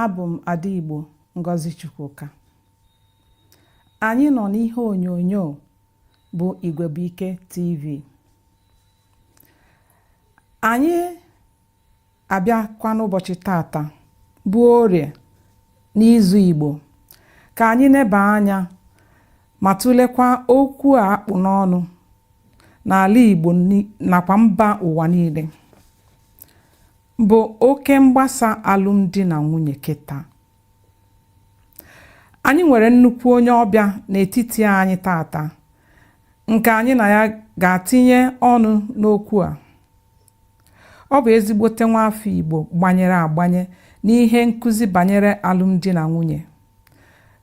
abụ m Ada Igbo Ngozi Chukwuka anyị nọ n'ihe onyonyo bụ Igwebuike TV anyị abịakwa n'ụbọchị tata bụ orie n'izu Igbo ka anyị neba anya ma tụlekwa okwu a akpụ n'ọnụ n'ala Igbo nakwa mba ụwa niile bụ oke mgbasa alụmdi na nwunye kịta anyị nwere nnukwu onye ọbịa n'etiti anyị tata nke anyị na ya ga-atinye ọnụ n'okwu a ọ bụ ezigbote nwa afọ Igbo gbanyere agbanye n'ihe nkụzi banyere alụmdi na nwunye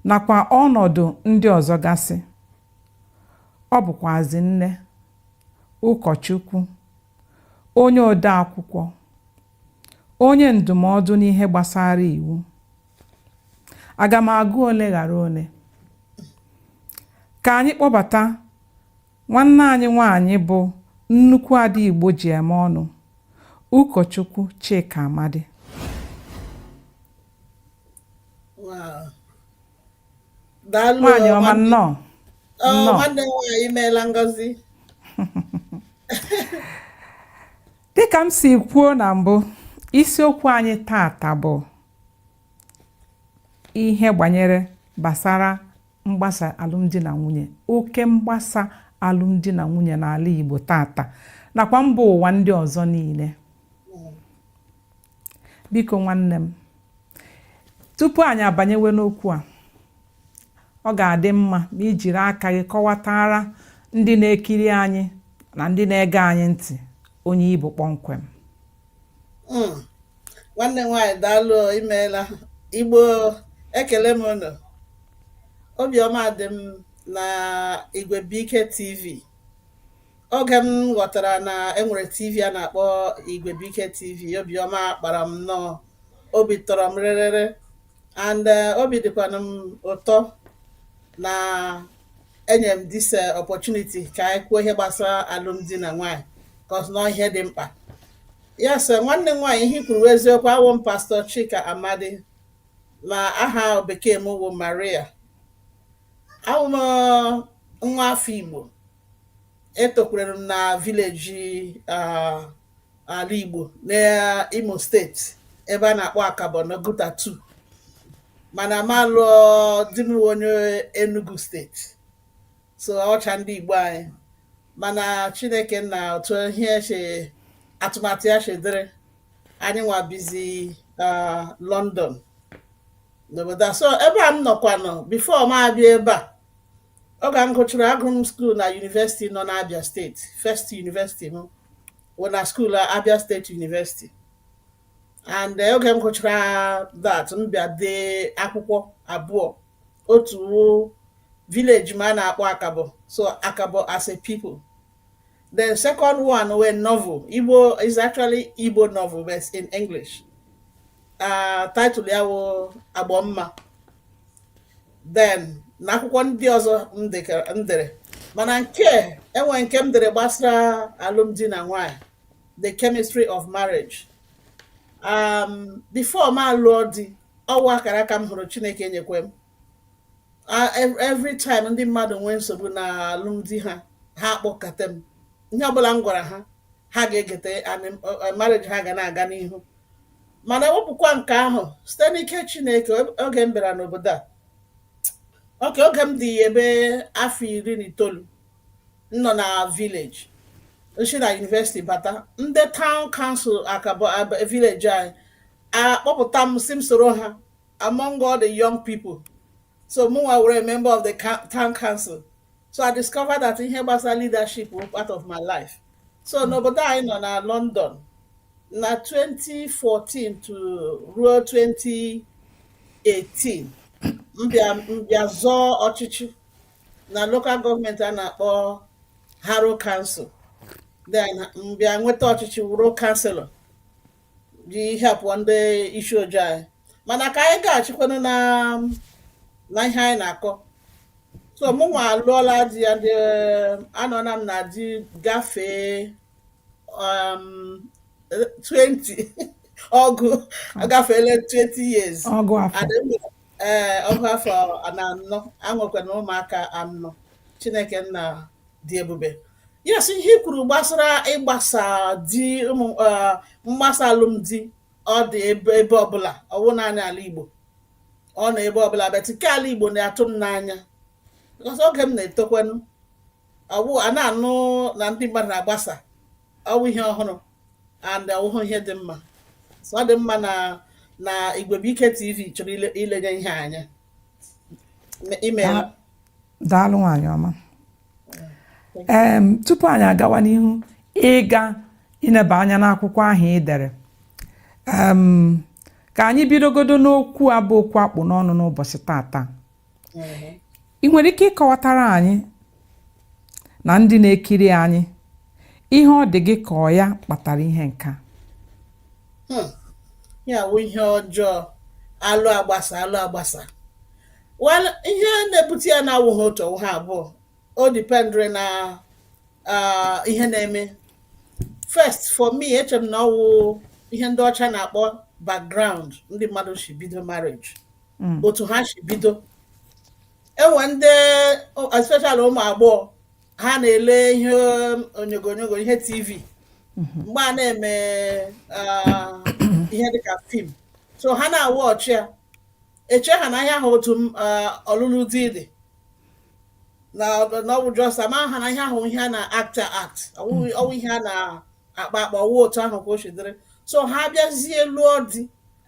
nakwa ọnọdụ ndị ọzọ gasị ọ bụkwazi nne ụkọchukwu onye odeakwụkwọ, onye ndụmọdụ n'ihe gbasara iwu. Aga m agụ ole ghara ole. Ka anyị kpọbata nwanne anyị nwaanyị bụ nnukwu ada Igbo ji eme ọnụ, ụkọchukwu Chika Amadi. daalụ nwaanyị ọma nwanne nnọọ ọ, nnọọ nwanne m nwaanyị imeela Ngozi dịka m si kwuo na mbụ isiokwu anyị tata bụ ihe gbanyere gbasara mgbasa alụmdi na nwunye oke mgbasa alụmdi na nwunye n'ala Igbo tata nakwa mba ụwa ndị ọzọ niile biko nwanne m tupu anyị abanyewe n'okwu a ọ ga-adị mma ma i jiri aka gị kọwatara ndị na-ekiri anyị na ndị na-ege anyị ntị onye ị bụ kpọmkwem hmm. nwanne nwaanyị daalụ imeela Igbo ekele m unu obiọma dị m na Igwebuike TV oge m ghọtara na e nwere tv a na-akpọ Igwebuike TV obiọma kpara m nnọọ obi tọrọ m rịrịrị and eh, obi dịkwana m ụtọ na enyere m this eh, opportunity ka anyị kwuo ihe gbasara alụmdi na nwaanyị because na ọ ihe dị mkpa yes nwanne m nwaanyị ihe i kwuru wụ eziokwu awụ m Pastor Chika Amadi na aha bekee m wụ Maria awụ m eh, nwa afọ Igbo etokwurere m na vileji ala Igbo n'Imo steeti ebe a na-akpọ Akabọ n'Oguta 2 mana m alụọ di m onye Enugu steeti so a wụcha ndị Igbo anyị mana Chineke nna otu ihe si atụmatụ ya si dịrị anyị nwa bizi London n'obodo a so ebe a m nọkwanụ bifo m abịa ebe a oge m gụchara agụrụ m skuul na yunivesiti nọ n'Abia steeti first yunivesiti m wụ na skuul Abia steeti yunivesiti and eh, oge m gụchara that m bịa dee akwụkwọ abụọ otu wụ village m a na-akpọ akabọ so akabọ as a people the second one wụ novel igbo it's actually igbo novel but in english uh, title ya wụ agbọmma then na akwụkwọ ndị ọzọ m dere mana nke e nwe nke m dere gbasara alụmdi na nwanyị the chemistry of marriage um, before m alụọ di ọ wụ akara aka m hụrụ chineke enyekwe m every time ndị mmadụ nwee nsogbu na alụmdi ha ha kpọkọta m ihe ọbụla m gwara ha ha ga-egete marriage ha ga na-aga n'ihu mana ewepụkwa nke ahụ site n'ike Chineke oge m bịara n'obodo a ok oge m dị ebe afọ iri na itoolu m nọ na vileji m si na yunivesiti bata ndị taụn kansụl akabọ vileji anyị akpọpụta m sị m soro ha among all the young people so mụnwa wụrụ member of the town council so i discovered that ihe gbasara leadership was part of my life so hmm. n'obodo anyị nọ na london na 2014 to ruo 2018 m bịa m bịa zọọ ọchịchị na local gọọmenti a na-akpọ Harrow Council then m bịa nweta ọchịchị wụrụ kanselọ ji helpụọ ndị isi ojii anyị mana ka anyị gaghachikwanụ na na ihe anyị na-akọ so mụ nwa alụọla di ya anọla m na di gafee um, 20 ọgụ agafeela 20 years ọgụ afọ Adị m- ee ọgụ afọ na anọ anwekwana ụmụaka anọ chineke nna dị ebube Yes, ihe i kwuru gbasara ịgbasa di um eh, mgbasa alụmdi ọ dị ebe ebe ọbụla ọ wụ naanị ala Igbo ọ nọ ebe ọbụla but nke ala Igbo na-atụ m n'anya because oge m na-etokwanụ ọwụ a na-anụ na ndị mmadụ na-agbasa ọ wụ ihe ọhụrụ and ọwụhụ ihe dị mma so ọ dị mma na na Igwebuike TV chọrọ ile- ilenye ihe anya imeela Daalụ nwaanyị ọma. ee tupu anyị agawa n'ihu ịga ịneba anya n'akwụkwọ ahụ i dere ka anyị bidogodo n'okwu a bụ okwu a kpụ n'ọnụ n'ụbọchị tata i nwere ike ịkọwatara anyị na ndị na-ekiri anyị ihe ọ dị gị ka ọ ya kpatara ihe nka hmm. ya wụ ihe ọjọọ alụ agbasa alụ agbasa Well, ihe na-ebute ya na-awụghị otu ọwụha abụọ o dependịrị na ah, ihe na-eme first for me eche m na ọwụ ihe ndị ọcha na-akpọ background ndị mmadụ si bido marriage Mm. otu ha si bido enwe ndị especially ụmụ agbọghọ ha na-ele ihe onyogonyogo ihe tv mgbe a na-eme ah, ihe dịka film so ha na-awatch ya eche ha na ihe ahụ otu eh, ọlụlụ di dị na ọ bụ just amaha na ihe ahụ ihe a na-acta act ọwụ ihe a na-akpa akpa ọwụ otu ahụ ka o si dịrị so ha bịazie lụọ di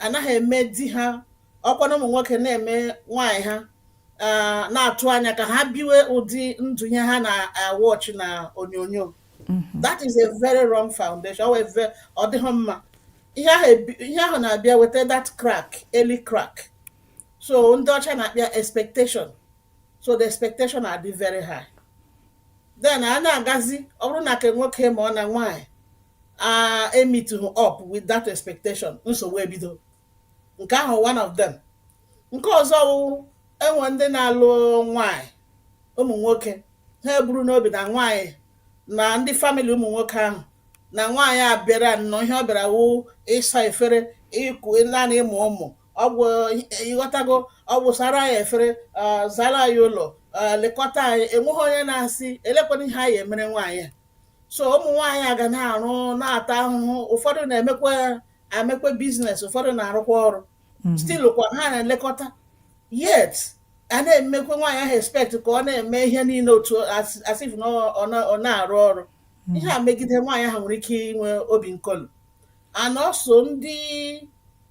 anaghị eme di ha ọkwa na ụmụ nwoke na-eme nwaanyị ha eh, na-atụ anya ka ha biwe ụdị ndụ ihe ha na-awatch na onyonyo mm-hmm. that is a very wrong foundation ọ dịghị mma ihe ahụ na-abịa weta that crack early crack so ndị ọcha na-akpọ ya expectation so the expectation adị very high then a na-agazi ọ bụrụ na ke nwoke ma ọ na nwaanyị a emeetighị up with that expectation nsogbu ebido nke ahụ one of them nke ọzọ wụ enwe ndị na-alụ nwaanyị ụmụ nwoke ha eburu n'obi na nwaanyị na ndị family ụmụ nwoke ahụ na nwaanyị a bịara nnọọ ihe ọ bịara wụ ịsa efere ịkụ naanị ịmụ ụmụ ọ gwụ ị ghọtago ọ gwụ sara ya efere zara ya ụlọ lekọta anyị enweghị onye na-asị elekwana ihe a ya-emere nwaanyị a so ụmụ nwaanyị a ga na-arụ na-ata ahụhụ ụfọdụ na-emekwa emekwa business ụfọdụ na-arụkwa ọrụ mhm. still kwa ha na-elekọta yet a na-emekwa nwaanyị ahụ expect ka ọ na-eme ihe niile otu as if na ọ na-arụ ọrụ mhm. ihe a megide nwaanyị ahụ nwere ike inwe obi nkolu and also ndị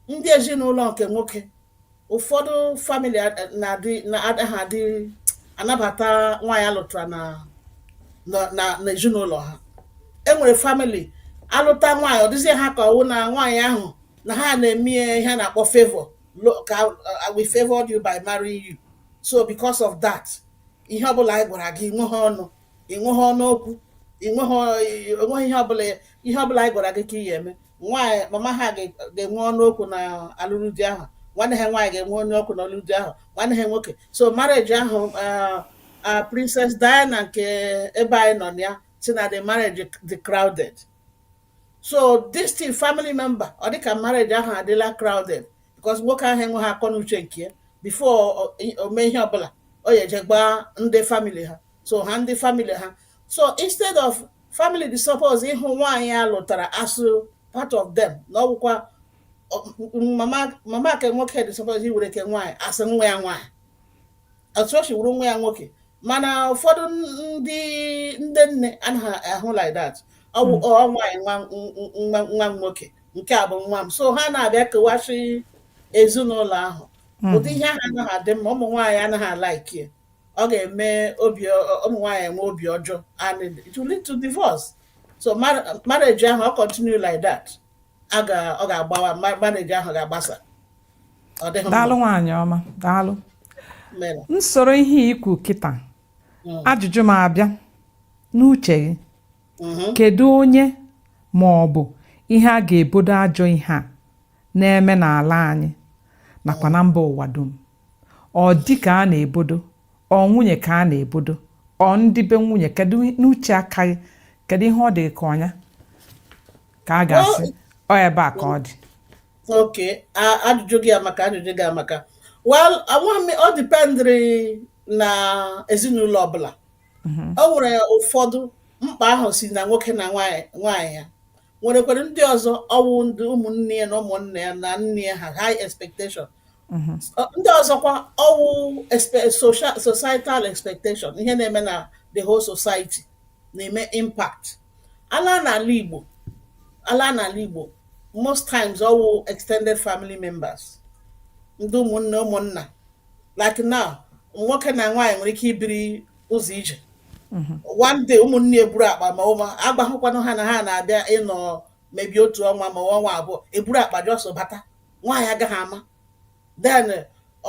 ndị ezinụlọ nke nwoke ụfọdụ family na-adị na-adịghị adị anabata nwaanyị a lụtara na na- na na ezinụlọ ha enwere family a lụta nwaanyị ọ dịzie ha ka ọwụ na nwaanyị ahụ na ha na-eme ihe a na-akpọ favor like we favored you by marrying you so because of that ihe ọbụla anyị gwara gị nweha ọnụ i nweghị ọnụ okwu enweghị ihe ọbụla ihe ọbụla anyị gwara gị ka ị ya eme nwaanyị mama ha ga-enwe ọnụ okwu na alụrụ di ahụ nwanne ha nwaanyị ga-enwe ọnụ okwu na alụrụ di ahụ nwanne ha nwoke so marriage ahụ ah, ah, Princess Diana nke ebe anyị nọ na ya sị na the marriage dị crowded so this thing family member ọ dịka marriage ahụ adịla crowded because nwoke ahụ enweghị akọ na uche nke ya before o mee ihe ọbụla ọ ya eje gwa ndị family ha so ha ndị family ha so instead of family dị suppose ịhụ nwaanyị a lụtara as part of them na ọ wụkwa mama ke nwoke dị suppose iwere ke nwaanyị as nwa ya nwaanyị otu o si wuru nwa ya nwoke mana ụfọdụ ndị ndị nne anaghị ahụ like that ọ bụ hmm. nwaanyị nwa nwoke nke a bụ nwa m so ha na-abịa kewasị ezinụlọ ahụ hmm. ụdị ihe ahụ anaghị adị mma ụmụ nwaanyị anaghị alike ọ ga-eme ụmụ nwaanyị enwe obi ọjọọ and it will lead to divorce so marriage ahụ ọ continue like that ọ ga-agbawa marriage ahụ ga-agbasa daalụ nwaanyị ọma daalụ nsoro ihe i kwu kịta mm. ajụjụ m abịa n'uche gị mm-hmm. kedu onye ma ọ bụ ihe a ga-ebodo ajọ ihe a na-eme n'ala anyị nakwa na mba ụwa dum ọ di ka a na-ebodo ọ nwunye ka a na-ebodo ọ ndị be nwunye kedu n'uche aka gị kedu ihe ọ dị ka ọ nya ka a ga-asị ọ ebe a ka ọ dị okay ajụjụ gị amaka ajụjụ gị amaka well ọ dependịrị na ezinụlọ ọbụla mhm. o nwere ụfọdụ mkpa ahụ si na nwoke na nwaanyị ya nwerekwara ndị ọzọ ọwụ ndị ụmụnne ya na ụmụnne ya na nne ya ha high expectation mhm. ndị ọzọkwa ọwụ societal expectation ihe na-eme na the whole society na-eme impact ala n'ala Igbo ala n'ala Igbo most times ọwụ extended family members ndị ụmụnne ụmụnna like now nwoke na nwaanyị nwere ike ibiri ụzọ ije mhm. one day ụmụnne eburu akpa ma ụma agwahụkwanụ ha na ha na-abịa ịnọ maybe otu ọnwa ma ọnwa abụọ eburu akpa just bata nwaanyị agaghị ama then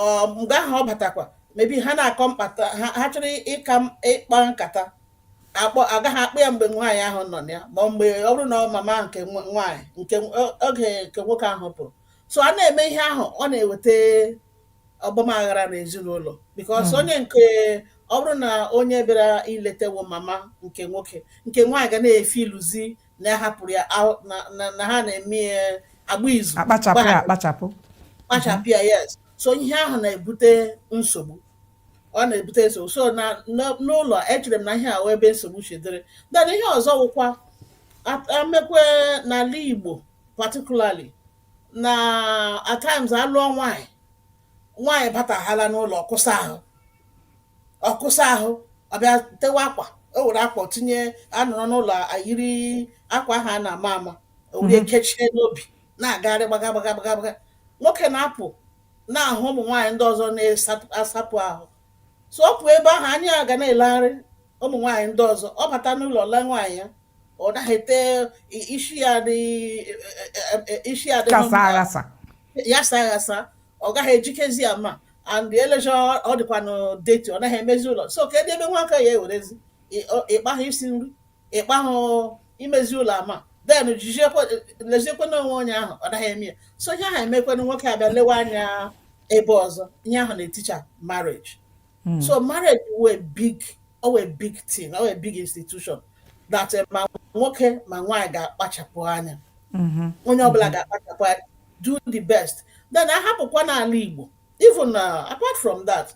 um, mgbe ahụ ọ batakwa maybe ha na-akọ nkata ha ha chọrọ ịka m- ịkpa nkata agaghị akpa ya mgbe nwaanyị ahụ nọ na ya ma ọ mgbe ọ bụrụ na ọ mama nke nwa- nwaanyị nke nw- o- oge nke nwoke ahụ pụrụ so a na-eme ihe ahụ ọ na-eweta ọgbamaghara n'ezinụlọ because Mm. onye nke ọ bụrụ na onye bịara ileta wụ mama nke nwoke nke nwaanyị ga na-efeel used na ahapụrụ ya ahụ- na- na- na ha na-eme ya agba izu akpachapụ ya gbahapụ akpachapụ kpachapụ ya yes so ihe ahụ na-ebute nsogbu ọ na-ebute nsogbu so na na- n'ụlọ echere m na ihe a wụ ebe nsogbu si dịrị then ihe ọzọ wụkwa a- emekwe n'ala igbo particularly na at times a lụọ nwaanyị nwaanyị bataghala n'ụlọ kwụsa ahụ ọ kwụsa ahụ ọ bịa tewe akwa o were akwa tinye a nọrọ n'ụlọ ayiri akwa ahụ a na-ama ama o were kechie n'obi na-agagharị gbaga gbaga gbaga gbaga nwoke na-apụ na-ahụ ụmụ nwaanyị ndị ọzọ na-asapụ ahụ so ọ pụọ ebe ahụ anya ya ga na-elegharị ụmụ nwaanyị ndị ọzọ ọ bata n'ụlọ lee nwaanyị ya ọ naghị ete isi ya dị isi ya dị ghasa aghasa ọ gaghị ejikezi ya ọma and e lezie ọ dịkwanụ dirty ọ naghị emezi ụlọ so kedu ebe nwoke ya ewerezi ịkpahụ isi nri ịkpahụ imezi ụlọ ma then leziekwanụ onwe onye ahụ ọ naghị eme ya so ihe ahụ emekwanụ nwoke abịa lewe anya ebe ọzọ ihe ahụ na-eticha marriage hmm. so marriage wụ a big ọ wụ a big thing ọ wụ a big institution that eh, ma nwoke ma nwaanyị ga-akpachapụ anya mm-hmm. onye ọbụla mm-hmm. ga-akpachapụ anya do the best then a hapụkwa n'ala Igbo even uh, apart from that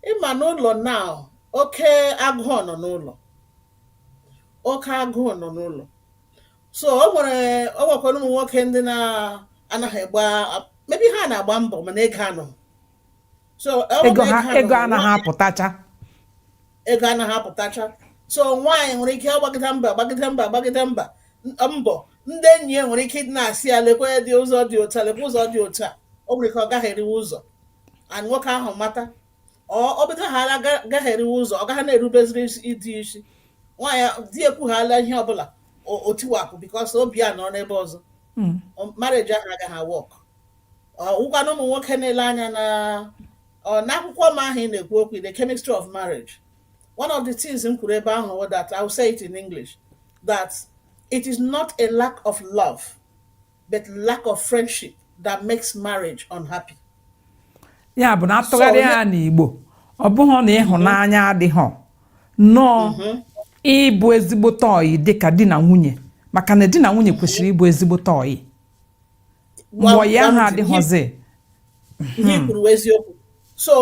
ị ma n'ụlọ now oke agụụ nọ n'ụlọ oke agụụ nọ n'ụlọ so o nwere o nwekwara ụmụ nwoke ndị na-anaghị agba maybe ha na-agba mbọ mana ego anaghị so ego anaghị apụtacha ego anaghị apụtacha so nwaanyị nwere ike agbagide mbọ agbagide mbọ agbagide mbọ mbọ ndị enyi ya nwere ike ịdị na-asị ya lekwadị ụzọ dị otu lekwa ụzọ dị otu a o nwere ike ọ gagharịwa ụzọ and nwoke ahụ mata ọ bidohala gagharịwa ụzọ ọ gaghị na-erubeziri di isi nwaanyị di ekwughala ihe ọbụla o tiwapụ because obi ya nọ n'ebe ọzọ hmm. marriage ahụ agaghị work ọ wụkwanụ ụmụ nwoke na-ele anya na n'akwụkwọ m ahụ ị na-ekwu okwu the chemistry of marriage one of the things m kwuru ebe ahụ that I will say it in English that it is not a lack of love but lack of friendship that makes marriage unhappy. ya bụ na a tụgharịa ya n'Igbo ọ bụghị na ịhụnanya adịghị nnọọ mm-hmm. ịbụ ezigbote ọyị dịka di na nwunye maka na di na nwunye kwesịrị ịbụ ezigbote ọyị mgbe ya ha adịghịzi ihe hmm. i kwuru wụ eziokwu so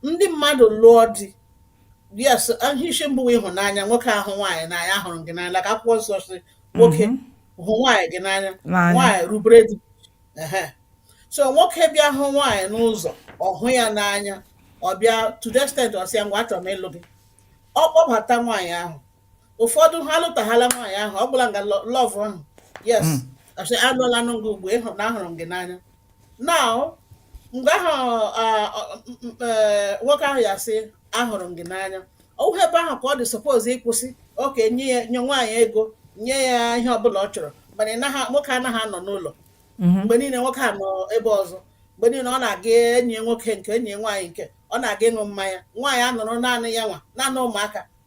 ndị mmadụ lụọ di yes ihe isi mbụ wụ ịhụnanya nwoke ahụ nwaanyị n'anya hụrụ gị n'anya ka akwụkwọ nsọ sị nwoke mhm. hụ nwaanyị gị n'anya nwaanyị rubere di so nwoke bịa hụ nwaanyị n'ụzọ ọ hụ ya n'anya ọ bịa to the extent ọ sị ya ngwa achọrọ m ịlụ gị ọ kpọbata nwaanyị ahụ ụfọdụ ha alụtaghala nwaanyị ahụ ọ gwụla nga lọ- love ahụ yes Mm. asị alụọla nụ gị ugbu ịhụ na ahụrụ m gị n'anya now mgbe ahụ ah, ọ- m- m- eh, nwoke ahụ ya sị ahụrụ m gị n'anya ọwụhụ ebe ahụ ka ọ dị suppose ịkwụsị okay nye ya nye nwaanyị ego nye ya ihe ọbụla ọ chọrọ mana ị naghị- nwoke anaghị anọ n'ụlọ Mhm. mgbe niile nwoke a nọ ebe ọzọ mgbe niile ọ na-aga enyi ya nwoke nke enyi ya nwaanyị nke ọ na-aga ịṅụ mmanya nwaanyị anọrọ naanị ya nwa naanị ụmụaka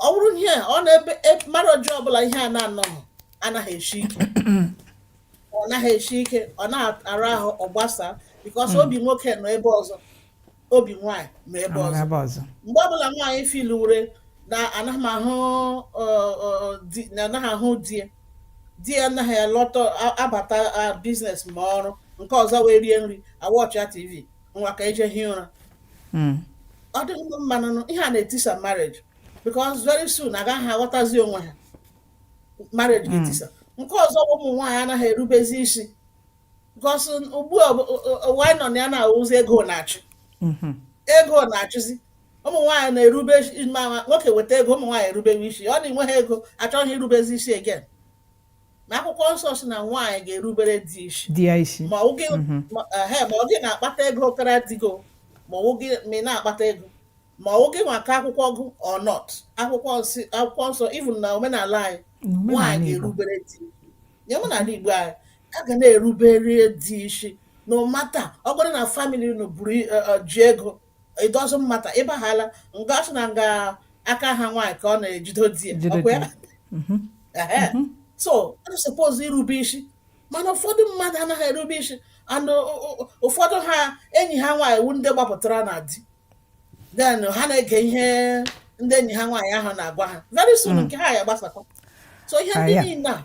ọ bụrụ ihe ọ na-ebe e, marriage ọbụla ihe a na-anọghị anaghị esi ike ọ naghị esi ike ọ na-ara ahụ ọ gbasa because hmm. obi nwoke nọ ebe ọzọ obi nwaanyị nọ ebe ọzọ mgbe ọbụla nwaanyị feeluwere na anaghị m ahụ na anaghị ahụ di di ya anaghị alọta abata business ma ọrụ nke ọzọ wee rie nri a watchịa tv nwa ka eje hie ụra hmm. ọ dịghị mma nụ ihe a na-etisa marriage because very soon agaghị aghọtazi onwe ha marriage hmm. ga-etisa nke ọzọ ụmụ nwaanyị anaghị erubezi isi because ugbu a nọ na ya na-awụzi ego na-achị hmm. ego na-achịzi ụmụ nwaanyị na-erube ma nwoke weta ego ụmụ nwaanyị erubewe isi ọ na enweghị ego achọghị irubezi isi again na akwụkwọ nsọ si na nwaanyị ga-erubere di isi di ya isi ma ọ gị mhm. ma ehe, ma ọ gị na-akpata ego kara di gị o, ma ọ gị ma ị na-akpata ego ma ọ gị nwa ka akwụkwọ gụ or not akwụkwọ nsị akwụkwọ nsọ even na omenala anyị nwaanyị n'omenala Igbo ga-erubere di ya omenala Igbo anyị a ga na-erubere di isi no matter ọ bụrụ na family unu buru i- eh, eh, ji ego it doesn't matter ịbahala nga asị na nga aka ha nwaanyị ka ọ na-ejido di ya Jide ọkwa ya? di ya. Mhm. Ehe. so a suppose irube isi mana ụfọdụ mmadụ anaghị erube isi and o- o- o- ụfọdụ ha enyi ha nwaanyị wu ndị gbapụtara na di then ha na-ege ihe ndị enyi ha nwaanyị ahụ na-agwa ha very soon nke ha ya gbasakwa so ihe ndị Aya. niile a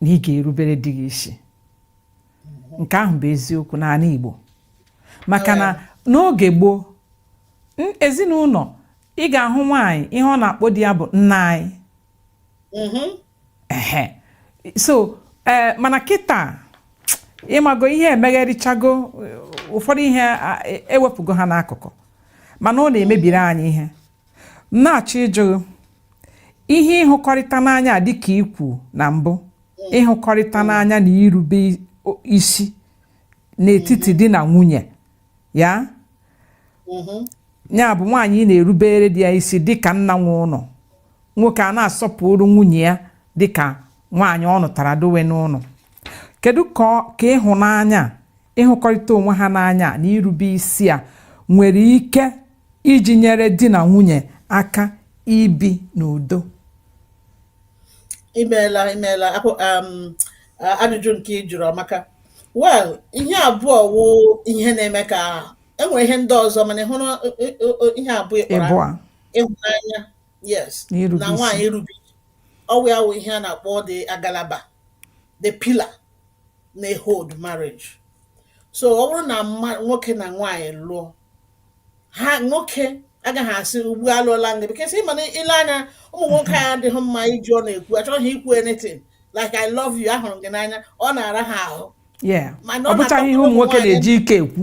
na ị ga-erubere di gị isi nke ahụ bụ eziokwu n'ala Igbo maka na n'oge gboo ezinụlọ ị ga-ahụ nwaanyị ihe ọ na-akpọ di ya bụ nna anyị mm-hmm. so eh, mana kịta ịmago ihe emegharịchago ụfọdụ ihe ewepụgo ha n'akụkụ mana ọ na-emebiri anyị ihe na-achọ ịjụ gị ihe ịhụkọrịta n'anya dịka ikwu na mbụ ịhụkọrịta n'anya na irube isi n'etiti di na nwunye ya mm-hmm. ya bụ nwaanyị ị na-erubere di ya isi dịka nna nwe ụlọ nwoke a na-asọpụrụ nwunye ya dịka nwaanyị ọ nụtara dowe n'ụlọ kedu ka ịhụnanya ịhụkọrịta onwe ha n'anya na irube isi a nwere ike iji nyere di na nwunye aka ibi n'udo imeela imeela um, ajụjụ nke ị jụrụ amaka well ihe abụọ wụ ihe na-eme ka enwere ihe ndị ọzọ mana ị hụrụ ihe abụọ ị kpọrọ ịhụnanya yes na nwaanyị irube ọwụ ya wụ ihe a na-akpọ the agalaba the pillar na-ehold marriage so ọ bụrụ na nwoke na nwaanyị lụọ ha nwoke agaghị asị ugbu a alụọla m gị because ị ma na ị lee anya ụmụ nwoke anyị adịghị mma iji ọnụ ekwu achọghị ikwu anything like I love you ahụrụ m gị n'anya ọ na-ara ha ahụ ọ bụchaghị ihe ụmụ nwoke na-eji ike ekwu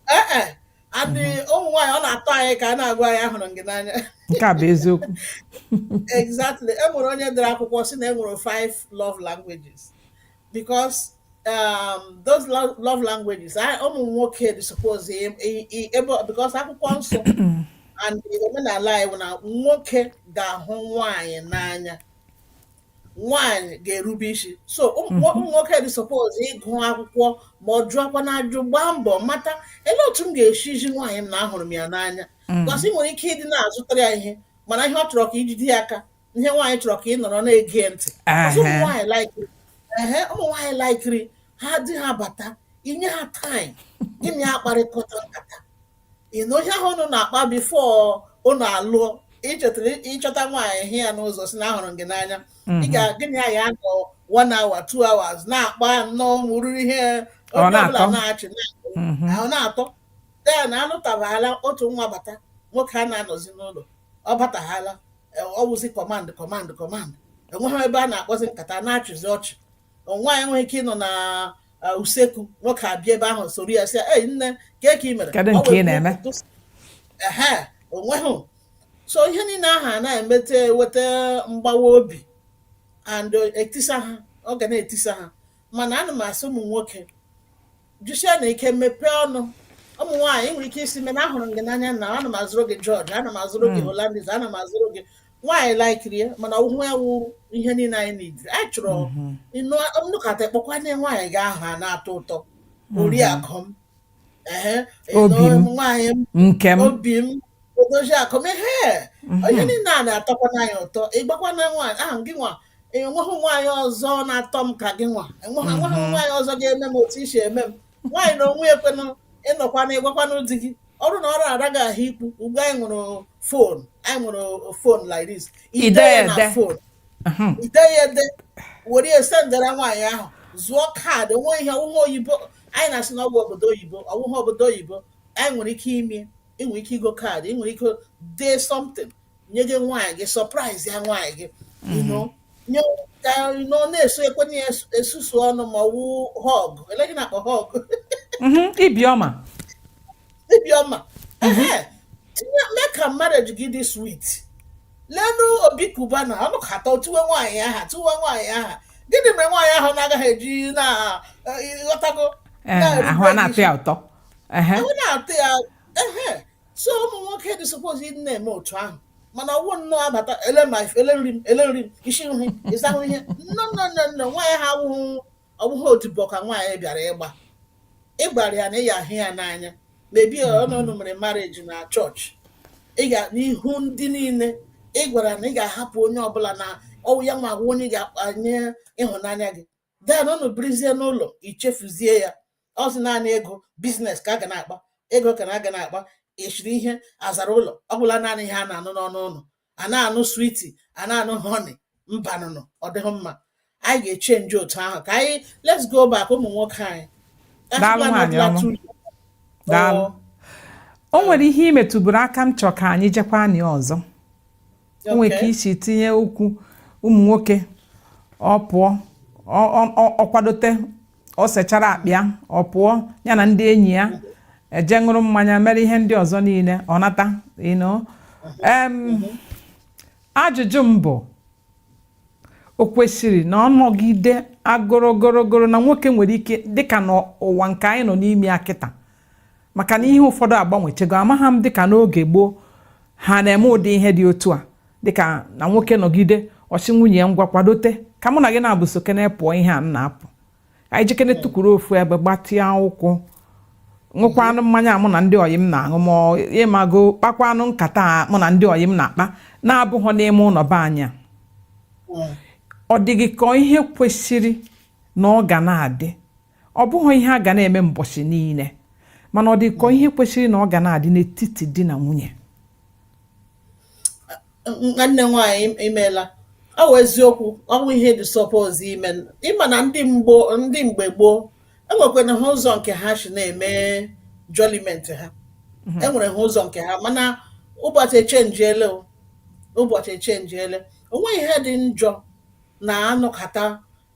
ee eh, eh. and ụmụ nwaanyị ọ na-atọ anyị ka a na-agwa anyị ahụrụ m gị n'anya nke a bụ eziokwu exactly e nwere onye dere akwụkwọ si na e nwere five love languages because um, those love languages ụmụ nwoke dị suppose because akwụkwọ nsọ and omenala anyị bụ na nwoke ga-ahụ nwaanyị n'anya nwaanyị ga-erube isi so ụmụ mhm. ụmụ nwoke dị suppose ịgụ akwụkwọ ma ọ jụọkwana ajụ gbaa mbọ mata ele otu m ga-esi ezi nwaanyị m na ahụrụ m ya n'anya mm. cause ị nwere ike ịdị na-azụtara ya ihe mana ihe ọ chọrọ ka i jide ya aka ihe nwaanyị chọrọ ka ị nọrọ na-ege ntị ụmụ nwaanyị laikiri ehe ụmụ nwaanyị laikiri ha di ha bata i nye ha time gị na ya akparịkọta nkata you know ihe ahụ unu na-akpa before unu alụọ ị chọtara ị chọta nwaanyị hụ ya n'ụzọ si na ahụrụ m gị n'anya ị ga gị na ya anọ one hour two hours na-akpa nnọọ wụrụ ihe Ọ onye ọbụla na-atọ. na-achị na-akụ Mhm. ahụ na-atọ then a lụtahala otu nwa bata nwoke anaghị anọzi n'ụlọ ọ batahala eh, ọ wụzi command command command enweghị ebe a na-akpazi nkata na-achịzi ọchị nwaanyị enweghị ike ịnọ na uh, usekwu nwoke abịa ebe ahụ soro ya sị ya ei nne kee ka ị mere Kedu Ọ nke wee ị na-eme? kwuo otu- ehe onweghị so ihe niile ahụ a na-emete weta mgbawa obi and uh, etisa ha ọ ga na-etisa ha mana ana m asị ụmụ nwoke jisienụ ike mepee ọnụ ụmụ nwaanyị nwere ike ịsị mee na ahụrụ m gị n'anya na ana m azụrụ gị George ana m azụrụ gị Hollandis ana m azụrụ gị nwaanyị laikiri ya mana ọ wụhụ ya wụ ihe niile anyị nidiri anyị chọrọ ịnụ nkata kpọkwana nwaanyị gị aha na-atọ ụtọ oriakụ m ehe Obi m. ịnụ nwaanyị m nke m obi m odozi akụ m ihe ihe niile a na-atọkwana anyị ụtọ ị gwakwana nwaanyị ahụ gị nwa enweghị nwaanyị ọzọ na-atọ m ka gị nwa enweghị enweghị nwaanyị ọzọ ga-eme m otu i si eme m nwaanyị na onwe ekwenụ ịnọkwana ịgwakwanụ di gị ọrụ na ọ rara gị ahụ ikwu ugbu anyị nwere fon anyị nwere fon like this ide ya na fon ide ya ede were ya sendara nwaanyị ahụ zụọ kaadị o nwee ihe ọwụghị oyibo anyị na-asị na ọwụ obodo oyibo ọwụghị obodo oyibo anyị nwere ike ime ị nwere ike igo kaadị ị nwere ike dee something nye gị nwaanyị gị surprise ya nwaanyị gị you know nye ka nọ na-eso ekwe na ya esu- esusu ọnụ ma ọ wụ hug elee gị na-akpọ hug Mhm, ibi ọma Ibi ọma. Ehe. Tinye mee ka marriage gị dị sweet. Leenụ Obi Cubana ọ nọkata ọ tuwe nwaanyị aha tuwe nwaanyị aha. Gịnị mere nwaanyị ahụ na-agaghị eji na eh, ịghọtago? Ee, na-erube ahụ a gị na-atọ isi? ya ụtọ Ehe, Ahụ na-atọ ya. Ehe. so ụmụ nwoke dị suppose ịdị na-eme otu ahụ mana ọwụ nnọọ abata ele ma ele nri m ele nri m isi nri ịsahụ ihe nne nne nne nne nwaanyị ahụ awụghị ọbụghị odibo ka nwaanyị bịara ịgba ị gwara ya na ị ya-ahụ ya n'anya maybe unu mere marriage na chọọchị ị ga n'ihu ndị niile ị gwara na ị ga-ahapụ onye ọbụla na ọwụ ya nwa wụ onye ga-awụ onye ịhụnanya gị then unu birizie n'ụlọ i chefuzie ya ọ wụzi naanị ego business ka a ga na-akpa ego ka na aga na-akpa e siri ihe a zara ụlọ ọ bụla naanị ihe a na-anụ n'ọnụ unu a na-anụ sweetie a na-anụ honey mbanụnụ ọ dịghị mma anyị ga-echenji otu ahụ ka anyị let's go back ụmụ nwoke anyị Daalụ Achịkwa nwaanyị anọdụla ọma. two years. Daalụ. Ọ- o nwere ihe i metụburu aka m chọ ka anyị jekwa na ya ọzọ o nwere ka i si tinye okwu ụmụ nwoke ọ pụọ ọ kwadote ọ sechara akpịa ọ pụọ ya na ndị enyi ya eje ṅụrụ mmanya mere ihe ndị ọzọ niile ọ nata ajụjụ m bụ o kwesịrị na ọ nọgide agorogorogoro na nwoke nwere ike dịka n'ụwa nke anyị nọ n'ime ya kịta maka na ihe ụfọdụ agbanwechego amaghị m dịka n'oge gboo ha na-eme ụdị ihe dị otu a dịka na nwoke nọgide ọ sị nwunye ya ngwa kwadote ka mụ na gị naabụ sokene pụọ ihe a na-apụ anyị jekene tukwuru ofu ebe gbatịa ụkwụ ṅụkwanụ mmanya mụ na ndị ọyị m na-aṅụ ma ịmago kpakwanụ nkata mụ na ndị ọyị m na-akpa na-abụghọ n'ime ụlọ be anyị ọ dịghị ka ihe kwesịrị na ọ ga na-adị ọ bụghị ihe a ga na-eme mbọchị niile mana ọ dịka ihe kwesịrị na ọ ga na-adị n'etiti di na nwunye nwanne nwaanyị i meela ọ wụ eziokwu ọ wụ ihe dị suppose ime ị ma na ndị mgbo ndị mgbe gboo enwekwana ha ụzọ nke ha si na-eme jọliment ha mhm. enwere ha ụzọ nke ha mana ụbọchị echenjiele ụbọchị echenjiele onweghị ihe dị njọ na a nọkata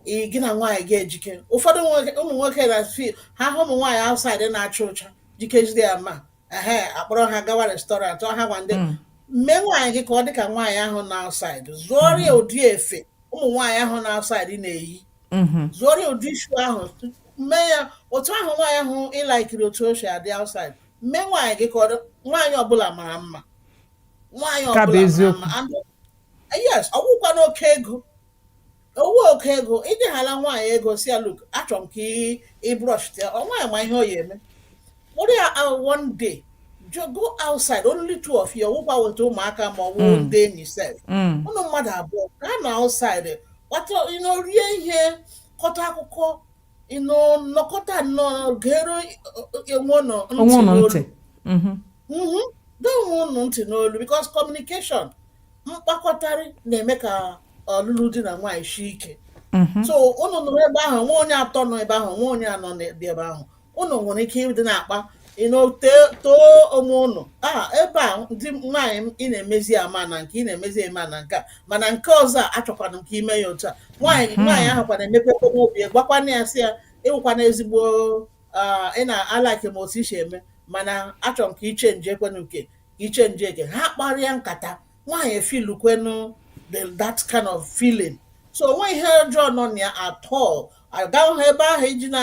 ị gị na nwaanyị ga-ejike ụfọdụ nwoke- ụmụ nwoke na fi ha hụ ụmụ nwaanyị outside na-acha ụcha jikezie ya ma ha akpọrọ ha gawa restaurant ọ ha gwa ndị Mm. mee nwaanyị gị ka ọ dị ka nwaanyị ahụ na outside zụọrọ ya ụdị efe ụmụ nwaanyị ahụ na outside na-eyi Mhm. zụọrọ ya ụdị shoe ahụ mee ya otu ahụ nwaanyị ahụ ị laikiri otu o si adị outside mee nwaanyị gị ka ọ dị- nwaanyị ọbụla mara mma nwaanyị Ọ bụ ọbụla mara eziokwu. mma And- yes ọ wụkwa n'oke ego ọ wụ oke ego ịdịghala nwaanyị ego sị ya look achọrọ m ka ị- ị brush up nwaanyị ma ihe ọ ya eme kpọrọ ya out one day ju- go outside only two of you ọ wụkwa weta ụmụaka ma ọ bụ ndị enyi sef Mm. ụnụ mmadụ abụọ gaa na outside kpata you know rie ihe kọta akụkọ you know nọkọta nnọọ gere onwe ụnụ Onwe ụnụ ntị. n'olu. Mhm. Mm-hmm. gee onwe ụnụ ntị n'olu because communication mkpakọtarị na-eme ka ọlụlụ di na nwaanyị sie ike mm-hmm. so ụnụ nọrọ ebe ahụ nwa onye atọ nọ ebe ahụ nwa onye anọ na-ebi ebe ahụ ụnụ nwere ike ịdị na-akpa too onwe ụnụ aha ebe a ndị nwaanyị m ị na-emezi ama na nke ị na-emezi eme na nke a mana nke ọzọ a achọkwanụ m ka i mee ya otu a nwaanyị mm-hmm. nwaanyị ahụ kwanụ emepe obi gwakwanụ ya sị ya ị wụkwanụ ezigbo ah, ị na alike m otu i si eme mana achọrọ m ka i chenjee kwenu nke i chenjee ka ha kparịa nkata nwaanyị efilu kwenu that kind of feeling so o nwe ihe ọjọọ nọ na ya at all agaghị ha ebe ahụ iji na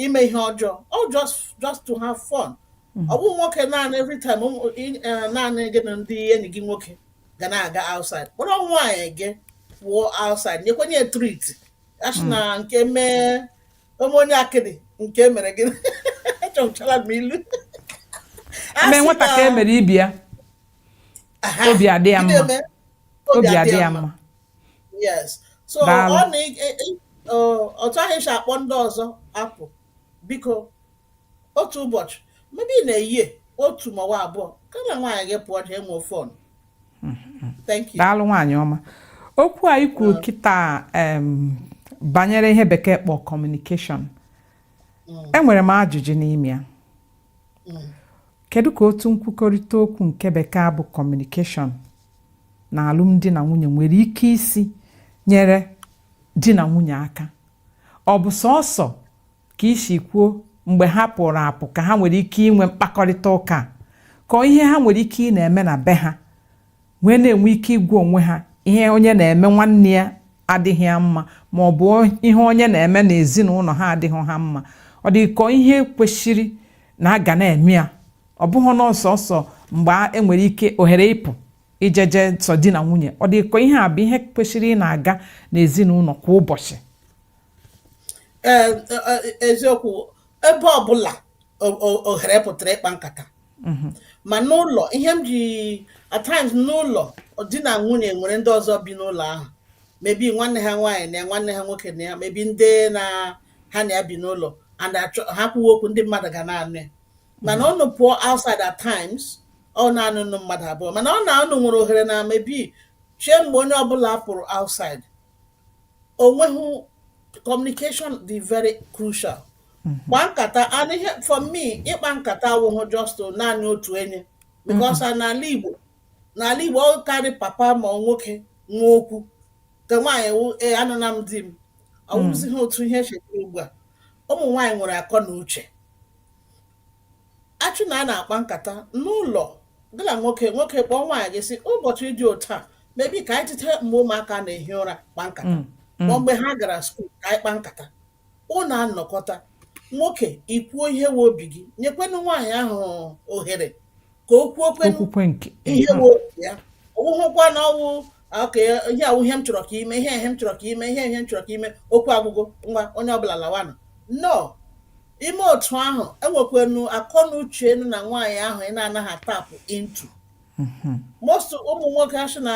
ime ihe ọjọọ ọ just just to have fun mm-hmm. ọ bụ nwoke naanị every time eh, naanị gị na ndị enyi gị nwoke ga na-aga outside kpọrọ nwaanyị gị pụọ outside nyekwenu ya treat asị na mm. nke mee O mee onye akịdị nke e mere gịnị? Echezọla m ilu. A mee sị nwata ka e na mere ibe ya aha, obi adị ya gịnị mma eme? obi adị ya mma Yes. So Daalụ. ọ na ị- ị- ị- ọ- otu ahụ esi akpọ ndị ọzọ apụ biko Otu ụbọchị, maybe in a year otu maọbụ abụọ ka gị na nwaanyị gị pụọ jee nwee fun. Thank you. daalụ nwaanyị ọma okwu a i kwuru kịta em, banyere ihe bekee kpọ communication enwere m ajụjụ n'ime ya kedu ka otu nkwukọrịta okwu nke bekee a bụ communication na alụmdi na nwunye nwere ike isi nyere di na nwunye aka ọ bụ sọsọ ka isi kwuo mgbe ha pụrụ apụ ka ha nwere ike inwe mkpakọrịta ụka ka ihe ha nwere ike ị na-eme na be ha wee na-enwe ike ịgwa onwe ha ihe onye na-eme nwanne ya adịghị ya mma ma ọ bụ ihe onye na-eme n'ezinụlọ ha adịghị ha mma ọ dị ka ihe kwesịrị na a ga na-eme ya ọ bụghị na sọọsọ mgbe enwere ike ohere ịpụ ijeje sọ di na nwunye ọ dị ka ihe a bụ ihe kwesịrị ị na-aga n'ezinụlọ kwa ụbọchị ee e- e- eziokwu ebe ọbụla o- o- ohere pụtara ịkpa nkata ma n'ụlọ ihe m ji at times n'ụlọ di na nwunye nwere ndị ọzọ bi n'ụlọ ahụ maybe nwanne ha nwaanyị nọ ya nwanne ha nwoke nọ ya maybe ndị na ha na ya bi n'ụlọ and achọ- ha kwuwe okwu ndị mmadụ ga na-anụ ya mana unu pụọ outside at times ọ naanị unu mmadụ abụọ mana ọ na unu nwere ohere na maybe chie mgbe onye ọbụla pụrụ outside onweghị communication dị very crucial kpa nkata and ihe for me ịkpa nkata awụghị just naanị otu onye because n'ala Igbo n'ala Igbo ọ karị papa ma ọ nwoke nwe okwu nke nwaanyị wụ ee anụna m di m ọ wụzighị otu ihe chetara ugbu a ụmụ nwaanyị nwere akọ na uche Asị na a na-akpa nkata n'ụlọ gị na nwoke nwoke kpọọ nwaanyị gị sị ụbọchị dị otu a maybe ka anyị tete mgbe ụmụaka na-ehi ụra kpa nkata mm, mm. ma mgbe ha gara school ka anyị kpa nkata ụnụ anọkọta nwoke ikwuo ihe wụ obi gị nyekwenụ nwaanyị ahụ ohere ka o kwuokwe o kwukwe nke ihe wụ obi ya ọ wụhụkwa na ọwụ okay ihe a wụ ihe m chọrọ ka i mee ihe ihe m chọrọ ka i mee ihe ihe m chọrọ ka i mee okwu agwụgo ngwa onye ọbụla lawanụ no i mee otu ahụ e nwekwenụ akọ na uche nọ na nwaanyị ahụ ị na-anaghị atap into most ụmụ nwoke asị na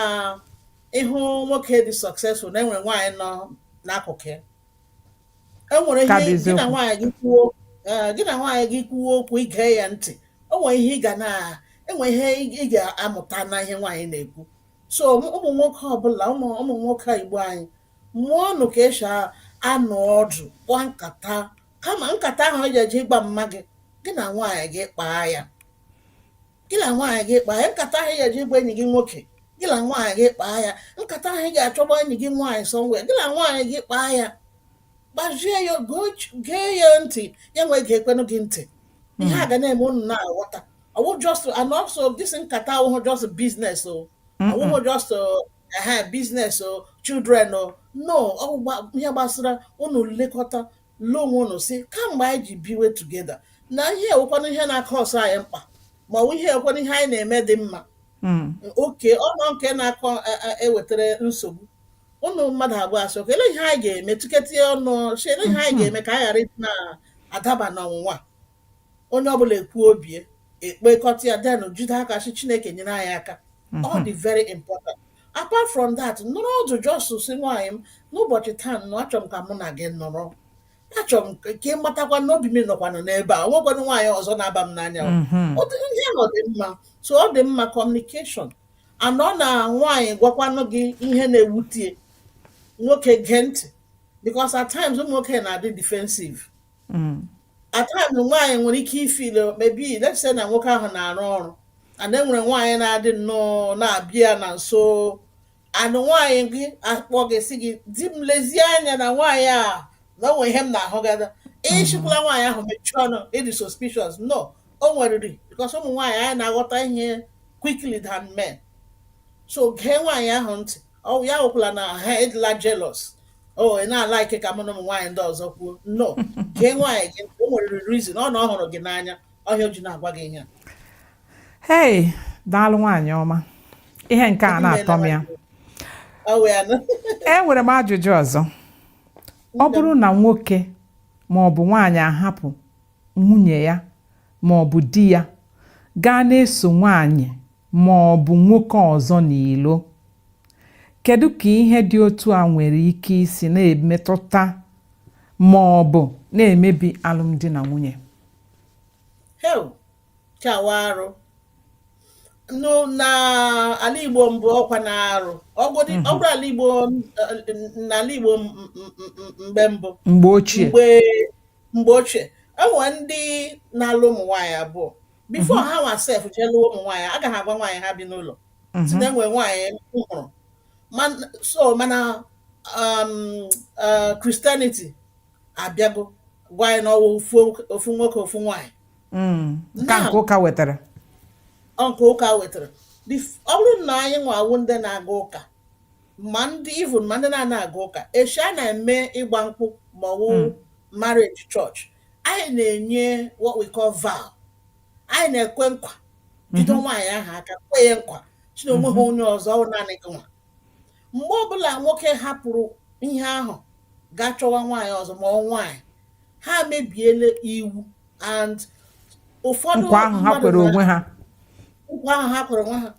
ịhụ nwoke dị successful na enwere nwaanyị nọ n'akụkụ ya e nwere Ka bụ ihe gị eziokwu. na nwaanyị gị kwuo ee, gị na nwaanyị gị kwuo okwu i gee ya ntị o nwere ihe ị ga na enwe ihe ị ị ga-amụta na ihe nwaanyị na-ekwu so ụmụ ụmụ nwoke ọbụla ụmụ ụmụ nwoke Igbo anyị mụọnụ ka esi a- anọ ọdụ kpaa nkata kama nkata ahụ ị ga-eje ịgwa mma gị gị na nwaanyị gị kpaa ya gị na nwaanyị gị kpaa ya nkata ahụ ị ga-eje ịgwa enyi gị nwoke gị na nwaanyị gị kpaa ya nkata ahụ ị ga-achọ ịgwa enyi gị nwaanyị somewhere gị na nwaanyị gị kpaa ya gwazie ya gee ya ntị ya nwee geekwenụ gị ntị ihe a ga na-eme unu na-aghọta ọwụ just and also this nkata awụhụ just business o awụhụ just business o children o no ọwụ ihe gbasara unu lekọta Lee onwe unu sị, kamgbe anyị ji biwe together, na ihe e nwekwanụ ihe na-akasị anyị mkpa, ma ọ bụ ihe e nwekwanụ ihe anyị na-eme dị mma. Mm. Okay ọnọ nke na-aka a- a- ewetara nsogbu. Unu mmadụ abụọ asị, okay, olee ihe anyị ga-eme tụkọta ọnụ sị, olee ihe anyị ga-eme ka anyị ghara ịdị na-adaba n'ọnwụnwa a?" Onye ọbụla ekwuo obi ya, ekpekọta ya, then jide aka sị Chineke nyere anyị aka. Ọ dị very important. apart from that nọrọ ọdụ just sị nwaanyị m n'ụbọchị taa na achọ m ka mụ na gị nọrọ achọ m ka ka ị matakwa na obi m nọkwanụ n'ebe a o nwekwanụ nwaanyị ọzọ na-aba m n'anya o. Mhm. Ọ dị- ihe nọ dị mma so ọ dị mma communication and ọ na nwaanyị gwakwanụ gị ihe na-ewute ya nwoke gee ntị because at times ụmụ nwoke na-adị defensive mm. at times nwaanyị nwere ike ịfeel maybe let's say na nwoke ahụ na-arụ ọrụ and e nwere nwaanyị na-adị nnọọ na-abịa na nso and nwaanyị gị akpọ gị sị gị di m lezie anya na nwaanyị a na o nwe ihe m na-ahụgada mm-hmm. ị sịkwala nwaanyị ahụ mechie ọnụ ị dị suspicious no o nweriri because ụmụ nwaanyị anyị na-aghọta ihe quickly than men so gee nwaanyị ahụ ntị ọ wụ ya ekwukwala na ha ị dịla jealous o ị na-alike ka mụ na ụmụ nwaanyị ndị ọzọ kwuo no gee nwaanyị gị o nwere reason ọ na ọ hụrụ gị n'anya ọ ihe o ji na-agwa gị ihe a hei daalụ nwaanyị ọma ihe nke a na-atọ m ya ọ wụ ya nụ e nwere m ajụjụ ọzọ ọ bụrụ na nwoke ma ọ bụ nwaanyị ahapụ nwunye ya ma ọ bụ di ya gaa na-eso nwaanyị ma ọ bụ nwoke ọzọ n'ilo kedu ka ihe dị otu a nwere ike isi na-emetụta ma ọ bụ na-emebi alụmdi na nwunye chai ọ wụ arụ n'ala Igbo mbụ ọ kwanụ arụ ọ bụrụ mhm. ala Igbo n'ala Igbo mgbe mbụ mgbe ochie mgbe mgbe ochie e nwere ndị na-alụ ụmụ nwaanyị abụọ before ha nwa sef jee lụọ ụmụ nwaanyị aga ha agwa nwaanyị ha bi n'ụlọ sị na e nwere nwaanyị m hụrụ Man- so mana um, uh, Christianity abịago gwa anyị na ọ wụ ofu ofu nwoke ofu nwaanyị Mm. ka nke ụka wetara ọ nke ụka wetara Bif- ọ bụrụ na anyị nwa wụ ndị na-aga ụka ma ndị even ma ndị na-anaa aga ụka echi a na-eme ịgba nkwụ ma ọ wụ Mm. marriage church anyị na-enye what we call vow anyị na-ekwe nkwa jide Mhm. nwaanyị ahụ aka kwe ya nkwa sị na o nweghị onye ọzọ ọ wụ naanị gị nwa mgbe ọbụla nwoke hapụrụ ihe ahụ gaa chọwa nwaanyị ọzọ ma ọ wụ nwaanyị ha mebiela iwu and ụfọdụ nkwa ahụ ha mmadụ kwere na- onwe ha nkwa ahụ ha kwere onwe ha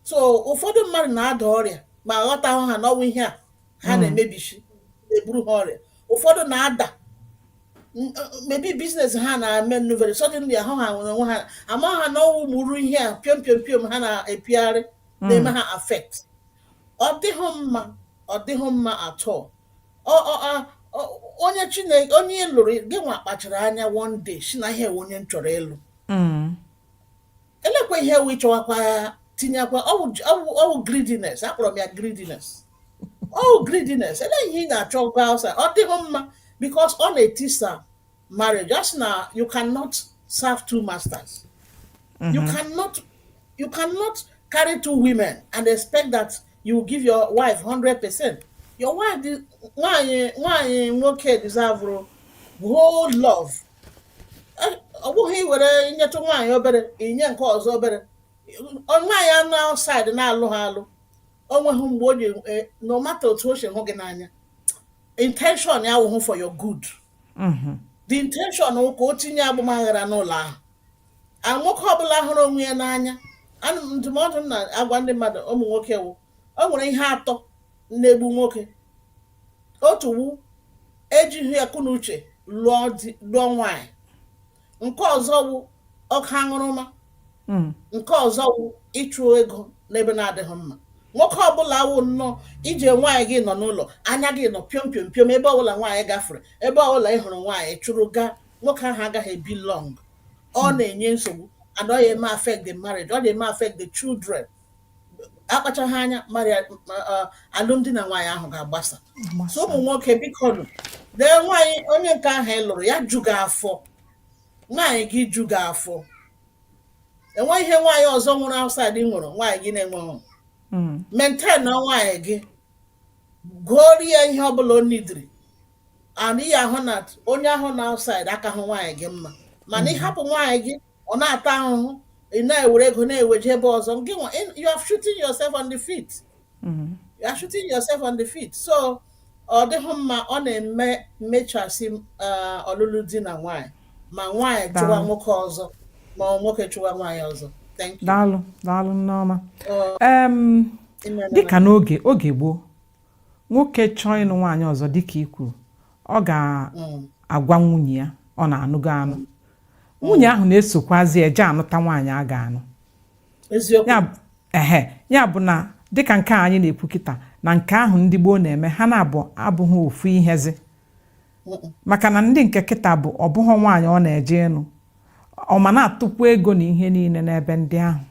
so ụfọdụ mmadụ na-ada ọrịa ma aghọtahụ ha na ọwụ ihe a ha na-emebichi na-eburu ha ọrịa ụfọdụ na-ada n- uh, maybe business ha na-eme nnu very suddenly ahụ ha nwere onwe ha ama ha na ọwụ ụmụrụ ihe a piom piom piom ha na-epigharị na-eme ha affect ọ dịghị mma ọ dịghị mma at all Ọ- ọ- ọ- ọ- onye Chineke onye ị lụrụ gị nwa kpachara anya one day si na ihe wụ onye m chọrọ ịlụ Mm. elekwa ihe wụ ịchọwakwa ya tinyekwa ọwụ greediness akpọrọ m ya greediness ọwụ greediness ele ihe ị ga-achọkwa outside ọ dịghị mma because ọ na-etisa marriage just na you cannot serve two masters mm-hmm. you cannot you cannot carry two women and expect that you give your wife 100 percent your wife nwanyị nwanyị nwoke deserve whole love ọ bụghị iwere nyetụ nwaanyị obere inye nke ọzọ obere nwaanyị a nọ outside na-alụhụ alụ o nweghị mgbe o ji e, no matter otu o si hụ gị n'anya intention ya wụhụ for your good mm-hmm. the intention wụ ka o tinye agbamaghara n'ụlọ ahụ and nwoke ọbụla hụrụ onwe ya n'anya ana m ndụmọdụ m na-agwa ndị mmadụ ụmụ nwoke wụ o nwere ihe atọ na-egbu nwoke otu wụ ejighị akọnuche lụọ di lụọ nwaanyị nke ọzọ wụ oke aṅụrụma Mm. nke ọzọ wụ ịchụ ego n'ebe na-adịghị mma nwoke ọbụla wụ nnọọ i ji nwaanyị gị nọ n'ụlọ anya gị nọ piom piom piom ebe ọbụla nwaanyị gafere ebe ọbụla ị hụrụ nwaanyị chụrụ gaa nwoke ahụ agaghị ebi long ọ na-enye nsogbu and ọ ya eme affect the marriage ọ na-eme affect the children akpachaghị anya marriage alụmdi na nwaanyị ahụ ga-agbasa so ụmụ nwoke bikonụ lee nwaanyị onye nke ahụ ị lụrụ ya ju gị afọ nwaanyị gị ju gị afọ enweghị ihe nwaanyị ọzọ ị hụrụ outside nwere nwaanyị gị na-enweghị maintain nwaanyị gị goori ya ihe ọbụla o needịrị and ị ya-ahụ na onye ahụ nọ outside akahụ nwaanyị gị mma mana ịhapụ nwaanyị gị ọ na-ata ahụhụ ị na-ewere ego na-eweje ebe ọzọ gị nwa you are shooting yourself on the feet mm-hmm. you are shooting yourself on the feet so ọ dịghị mma ọ na-eme mmechasị uh, ọlụlụ di na nwanyị ma nwanyị chụwa nwoke ọzọ ma nwoke chụwa nwanyị ọzọ daalụ daalụ Nneọma dịka n'oge oge gboo nwoke chọọ ịnụ nwaanyị ọzọ dịka i kwuru ọ ga-agwa mm. nwunye ya ọ na-anụgo anụ mm. nwunye ahụ na-esokwazi eje anụta nwaanyị a ga-anụ ehe ya bụ na dịka nke anyị na-ekwu kịta na nke ahụ ndị gboo na-eme ha na-abụ abụghị ofu ihezi maka na ndị nke kịta bụ ọ bụghị nwaanyị ọ na-eje ịnụ ọ ma na-atụkwu ego na ihe niile n'ebe ndị ahụ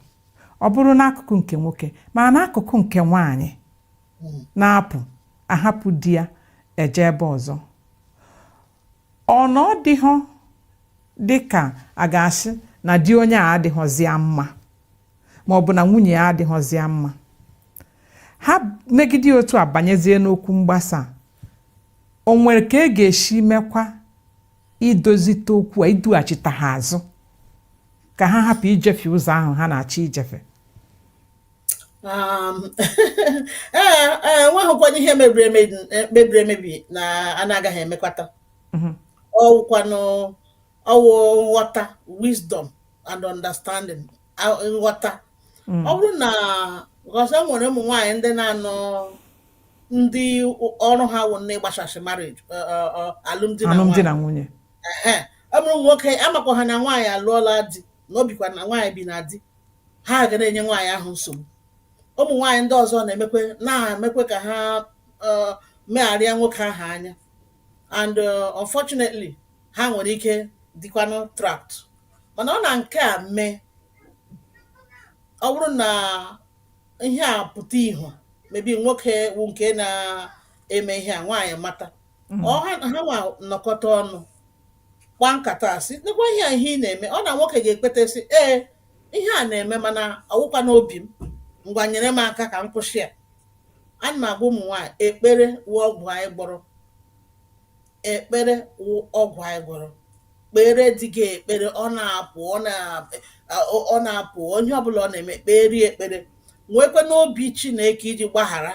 ọ bụrụ n'akụkụ nke nwoke ma n'akụkụ nke nwaanyị na-apụ ahapụ di ya eje ebe ọzọ ọ na ọ dịghọ dị ka a ga-asị na di onye a adịghọzịa mma ma ọ bụ na nwunye ya adịghọzịa mma ha megide otu a banyezie n'okwu mgbasa o nwere ka e ga-esi mekwa idozite okwu a idughachite ha azụ ka ha hapụ ijefe ụzọ ahụ ha na-achọ ijefe um ee ee enweghịkwana ihe mebiri emebi mebiri emebi na a na-agaghị emekwata Mhm. ọwụkwanụ ọwụ nghọta wisdom and understanding a- nghọta Mm. ọ bụrụ na ọzọ nwere ụmụ nwaanyị ndị na-anọ ndị ọrụ ha wụ na ịgbasasị marriage ọ- ọ- ọ, alụmdi na alụmdi nwaanyị na nwunye Ehe. ụmụ nwoke amakwa ha na nwaanyị alụọla di na o bikwa na nwaanyị bi na di ha ga na-enye nwaanyị ahụ nsogbu ụmụ nwaanyị ndị ọzọ na-emekwe na-emekwe ka ha eh, megharịa nwoke ahụ anya and eh, unfortunately ha nwere ike dịkwanụ trapped mana ọ na nke a mee ọ bụrụ na ihe a pụta ihu maybe nwoke wụ nke na-eme ihe a nwaanyị mata ọ ha ha nwa nọkọta ọnụ kpaa nkata a sị nekwa ihe a ihe ị na-eme ọ na nwoke ga-ekweta sị ee ihe a na-eme mana ọwụkwa n'obi m ngwa nyere m aka ka m kwụsị ya ana m agwa ụmụ nwaanyị ekpere wụ ọgwụ anyị gwọrọ ekpere wụ ọgwụ anyị gwọrọ kpeere di gị ekpere ọ na-apụ ọ na- ọ- ọ na-apụ ihe ọbụla ọ na-eme kpeere ya ekpere nwekwa n'obi chineke iji gbaghara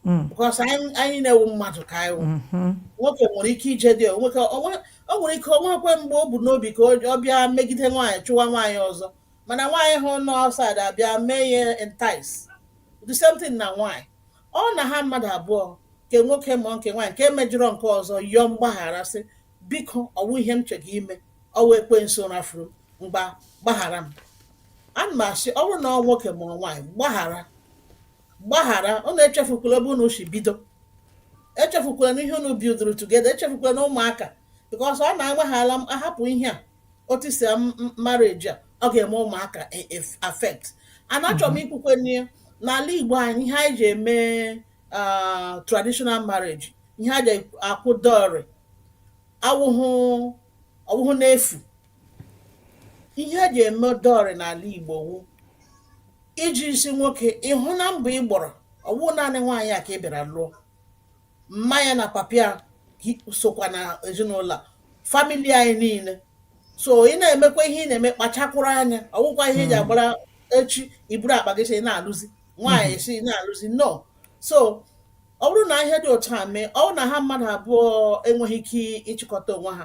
Mm. because anyị anyị niile wụ mmadụ ka anyị wụ Mhm. nwoke nwere ike ije dị o nweke- o nwe- o nwere ike o nwekwe mgbe o bu n'obi ka o- ọ bịa megide nwaanyị chụwa nwaanyị ọzọ mana nwaanyị ahụ nọ outside abịa mee ya entice the same thing na nwaanyị ọ na ha mmadụ abụọ nke nwoke ma nke nwaanyị nke mejọrọ nke ọzọ yọọ mgbaghara sị biko ọwụ ihe m chọrọ ime ọwụ ekwensu rafuru m mgba gbaghara m ana m asị ọ bụrụ na ọ nwoke mere nwaanyị gbaghara gbaghara unu echefukwala ebe unu si bido echefukwala na ihe unu bidoro together echefukwala na ụmụaka because ọ na-agbaghala m ahapụ ihe a etisa marriage a ọ ga-eme ụmụaka e- e- affect and achọrọ m ikwukwe n'ihe n'ala igbo anyị ihe anyị ji eme ah, traditional marriage ihe a ji akwụ dowry awụhụ ọwụhụ n'efu ihe eji eme dowry n'ala Igbo wụ iji sị nwoke ịhụ na mbọ ị gbọrọ ọwụ naanị nwaanyị a ka ị bịara lụọ mma ya na papa ya sokwa na ezinụlọ famili anyị niile so ị na-emekwa ihe ị na-eme kpachakwụrụ anya ọwụkwa ihe eji hmm. agbara echi i buru akpa gị sị na alụzi nwaanyị hmm. sị na alụzi no so ọ bụrụ na ihe dị otu a mee ọ na ha mmadụ abụọ enweghị ike ịchịkọta onwe ha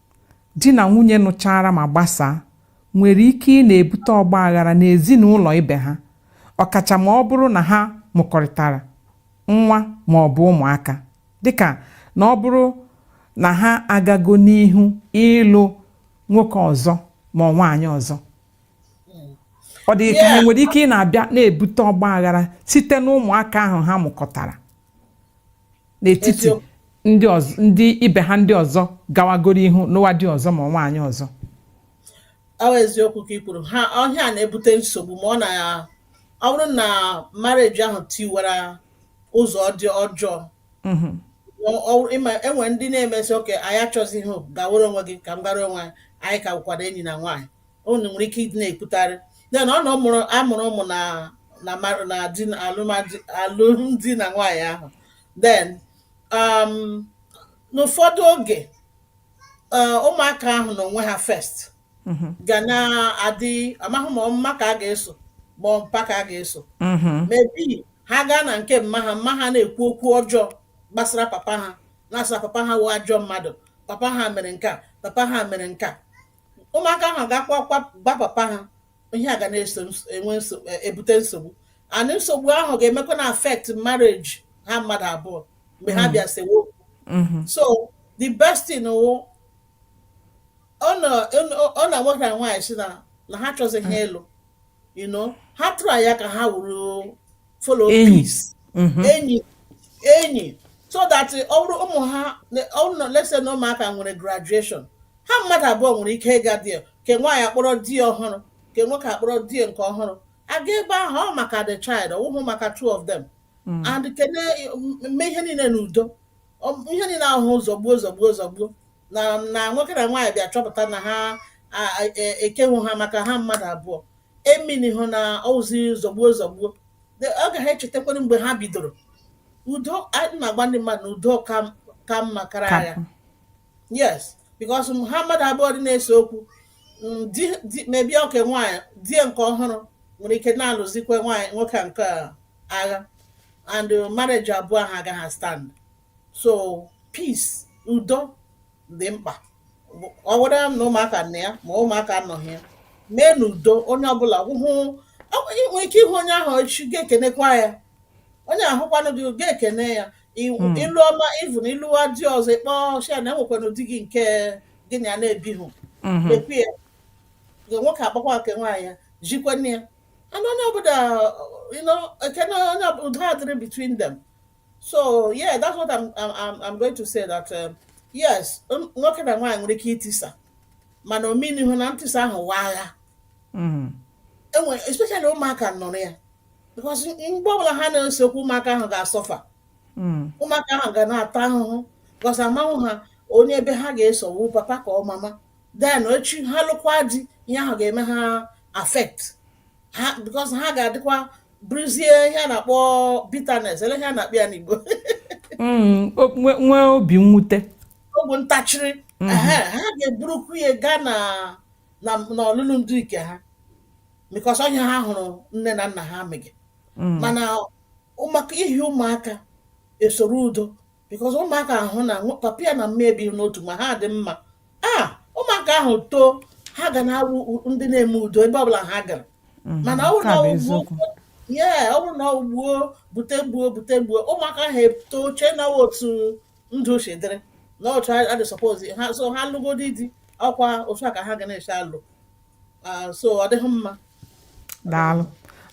di na nwunye nụchara ma gbasaa nwere ike ị na-ebute ọgba aghara n'ezinụlọ ibe ha ọkacha ma ọ bụrụ na ha mụkọrịtara nwa ma ọ bụ ụmụaka dịka na ọ bụrụ na ha agago n'ihu ịlụ nwoke ọzọ ma ọ nwaanyị ọzọ ọ dị gị ka ha nwere ike ị na-abịa na-ebute ọgba aghara site n'ụmụaka ahụ ha mụkọtara n'etiti ndị ọzọ ndị ibe ha ndị ọzọ gawagoro ihu nụwa di ọzọ ma ọ nwaanyị ọzọ ọ wụ eziokwu ka ị kwuru ha ọ ihe a na-ebute nsogbu ma ọ na ya ọ bụrụ na marriage ahụ tiwara ụzọ dị ọjọọ mhm. e nwere ndị na-eme sị okay anyị achọzighị gawere onwe gị ka m gara onwe anyị ka bụkwara enyi na nwaanyị unu nwere ike ịdị na-ekwutarị then ọ na ọ mụrụ a mụrụ ụmụ na na mar- na di na alụmdi alụmdi na nwaanyị ahụ then um, n'ụfọdụ oge eh, ụmụaka ahụ na onwe ha first Mhm. ga na-adị amaghị ma ọ mma ka a ga-eso ma ọ mpa ka a ga-eso Mhm. maybe ha gaa na nke mma ha mma ha na-ekwu okwu ọjọọ gbasara papa ha na-asị na papa ha wụ ajọ mmadụ papa ha mere nke a papa ha mere nke a ụmụaka ahụ ga-akwa akwa gwa papa ha ihe a ga na-eso enwe e, ebute nsogbu and nsogbu ahụ ga-emekwa na-affect marriage ha mmadụ abụọ mgbe ha mm. bịa sewe okwu mm-hmm. so the best thing wụ ọ na nwoke na nwaanyị sị na ha achọzighị ịlụ mm. you know ha try ya ka ha wụrụ follow enyi peace Mhm. enyi enyi so that eh, ọ bụrụ ụmụ ha na- ọ bụrụ na let's say na ụmụaka nwere graduation ha mmadụ abụọ nwere ike ịga di ya ke nwaanyị akpọrọ di ya ọhụrụ ke nwoke akpọrọ di ya nke ọhụrụ aga ebe ahụ ọ maka the child ọ wụhụ maka two of them Mm. and ka a na-eme ihe niile n'udo Ọ- ihe niile ahụ zọgbuo zọgbuo zọgbuo na na nwoke na nwaanyị bịa chọpụta na ha a- a- e- ekehụ ha maka ha mmadụ abụọ o meanihụ na ọwụzi zọgbuo zọgbuo De- ọ gaghị echetakwara mgbe ha bidoro udo anyị na-agwa ndị mmadụ na udo ka m- ka mma karịa agha kapụ yes because m- ha mmadụ abụọ dị na-ese okwu mm, di di- maybe oke nwaanyị di ya nke ọhụrụ nwere ike na-alụzikwa nwaanyị nwoke a nke a agha and marriage abụọ ha agaghị stand so peace udo dị mkpa ọ wụrụ na ụmụaka nọ ya ma ụmụaka anọghị ya mee n'udo onye ọbụla hụ nwere ike ịhụ onye ahụ echi ga-ekenekwa ya onye ahụkwanụ gị ga-ekene ya hmm. ịlụ ọma even ị lụwa di ọzọ ị kpọọ shia na enwekwana di gị nke gị na ya na-ebighị hmm. ekwu ya nwoke akpọkwa nke nwaanyị ya jikwa nne ya and onye ọbụla ekene onye udo adịrị between them so yeah that's what I'm, I'm, I'm going to say that um, yes nwoke na nwaanyị nwere ike itisa mana o meanihụ na ntisa ahụ wụ agha mm-hmm. enwe especially ụmụaka nọrọ ya because mgbe ọbụla ha na-ese okwu ụmụaka ahụ ga-asuffer mm. ụmụaka ahụ ga na-ata ahụhụ because amahụ ha onye ebe ha ga-eso ọ wụ papa ka ọ mama then echi ha lụkwa di ihe ahụ ga-eme ha affect ha because ha ga-adịkwa bụrụzie ihe a na-akpọ bitterness elee ihe a na-akpọ ya n'Igbo mm, nwee obi mwute obi ntachiri mm-hmm. ha ga-eburukwu ya gaa na n'ọlụlụ di nke ha because ọ ihe ha hụrụ nne na nna ha mege mm. mana maka ihi ụmụaka e soro udo because ụmụaka hụ na papa ya na mama ebihụ n'otu ma ha dị mma a ah, ụmụaka ahụ too ha ga na-awụ ndị na-eme udo ebe ọbụla ha gara mhm. mana ọ bụrụ na ọ gbuo bute m gbuo bute m gbuo ụmụaka ahụ etoo chee na otu ndụ si dịrị na otu a dị suppose ha so ha lụgodi di ọkwa otu a ka ha ga na-esi alụ Ah, so ọ dịghị mma daalụ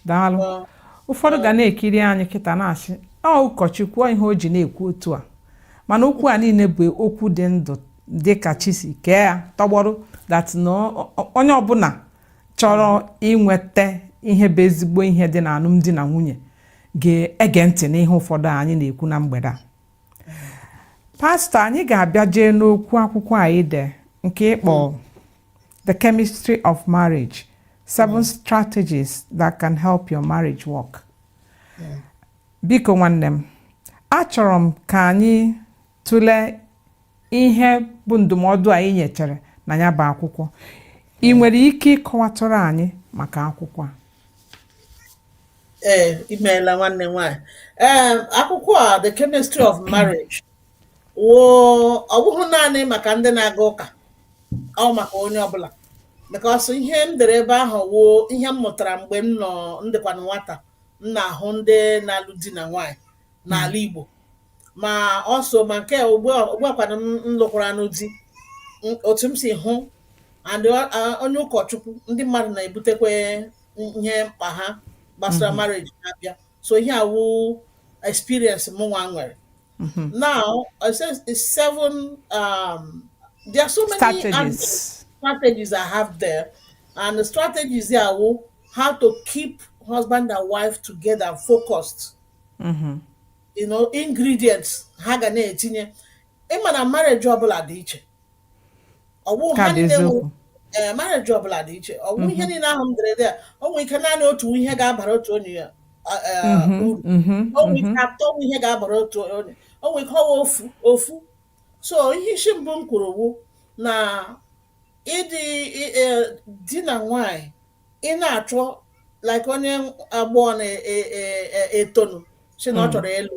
daalụ Ah, ụfọdụ ga na-ekiri anyị kịta na-asị ọ ụkọchukwu ọ ihe o ji na-ekwu otu a mana okwu a niile bụ okwu dị ndụ dị ka chi si kee ya tọgbọrọ that na ọ- ọ- onye ọbụla chọrọ inweta ihe bụ ezigbo ihe dị na alụmdi na nwunye ga-ege ntị n'ihe ụfọdụ anyị na-ekwu na mgbede a pastọ anyị ga-abịa jee n'okwu akwụkwọ anyị de nke ị kpọ The Chemistry of Marriage Seven mm. Strategies That Can Help Your Marriage Work. Yeah. Biko nwanne m, achọrọ m ka anyị tụlee ihe bụ ndụmọdụ anyị nyechere na ya bụ akwụkwọ. Ị mm. nwere ike ịkọwatụrụ anyị maka akwụkwọ a? Ee, imeela nwanne m nwaanyị. Ee, akwụkwọ a The Chemistry of Marriage woo ọ bụghị naanị maka ndị na-aga ụka ọ wụ maka onye ọbụla because ihe m dere ebe ahụ wụ ihe m mụtara mgbe m nọ m dịkwanụ nwata m na-ahụ ndị na-alụ di na nwaanyị n'ala Igbo ma ọ so ma nke ugbuakwanụ m lụkwaranụ di otu m si hụ and onye ụkọchukwu ndị mmadụ na-ebutekwa ihe mkpa ha gbasara marriage na-abịa so ihe a wụ experience mụnwa nwere mm-hmm. now I say it's seven um, there are so many strategies. strategies I have there and the strategies there wụ how to keep husband and wife together focused mm-hmm. you know ingredients ha ga na-etinye ị ma na marriage ọbụla dị iche ọwụ Ka ha bụ niile wụ eziokwu. ee marriage ọbụla dị iche ọwụ ihe niile ahụ m dere there o nwere ike naanị otu ihe ga-abara otu onye ya a- a- Mhm, uru mhm, o nwere mhm. ike atọ wụ ihe ga-abara otu onye o nwere ike ọwụ ofu ofu so ihe isi mbụ m kwuru wụ na ịdị ị- e, di na nwanyị ị na-achọ like onye agbọghọ na-etonu e, e, e, si na ọ hmm. chọrọ ịlụ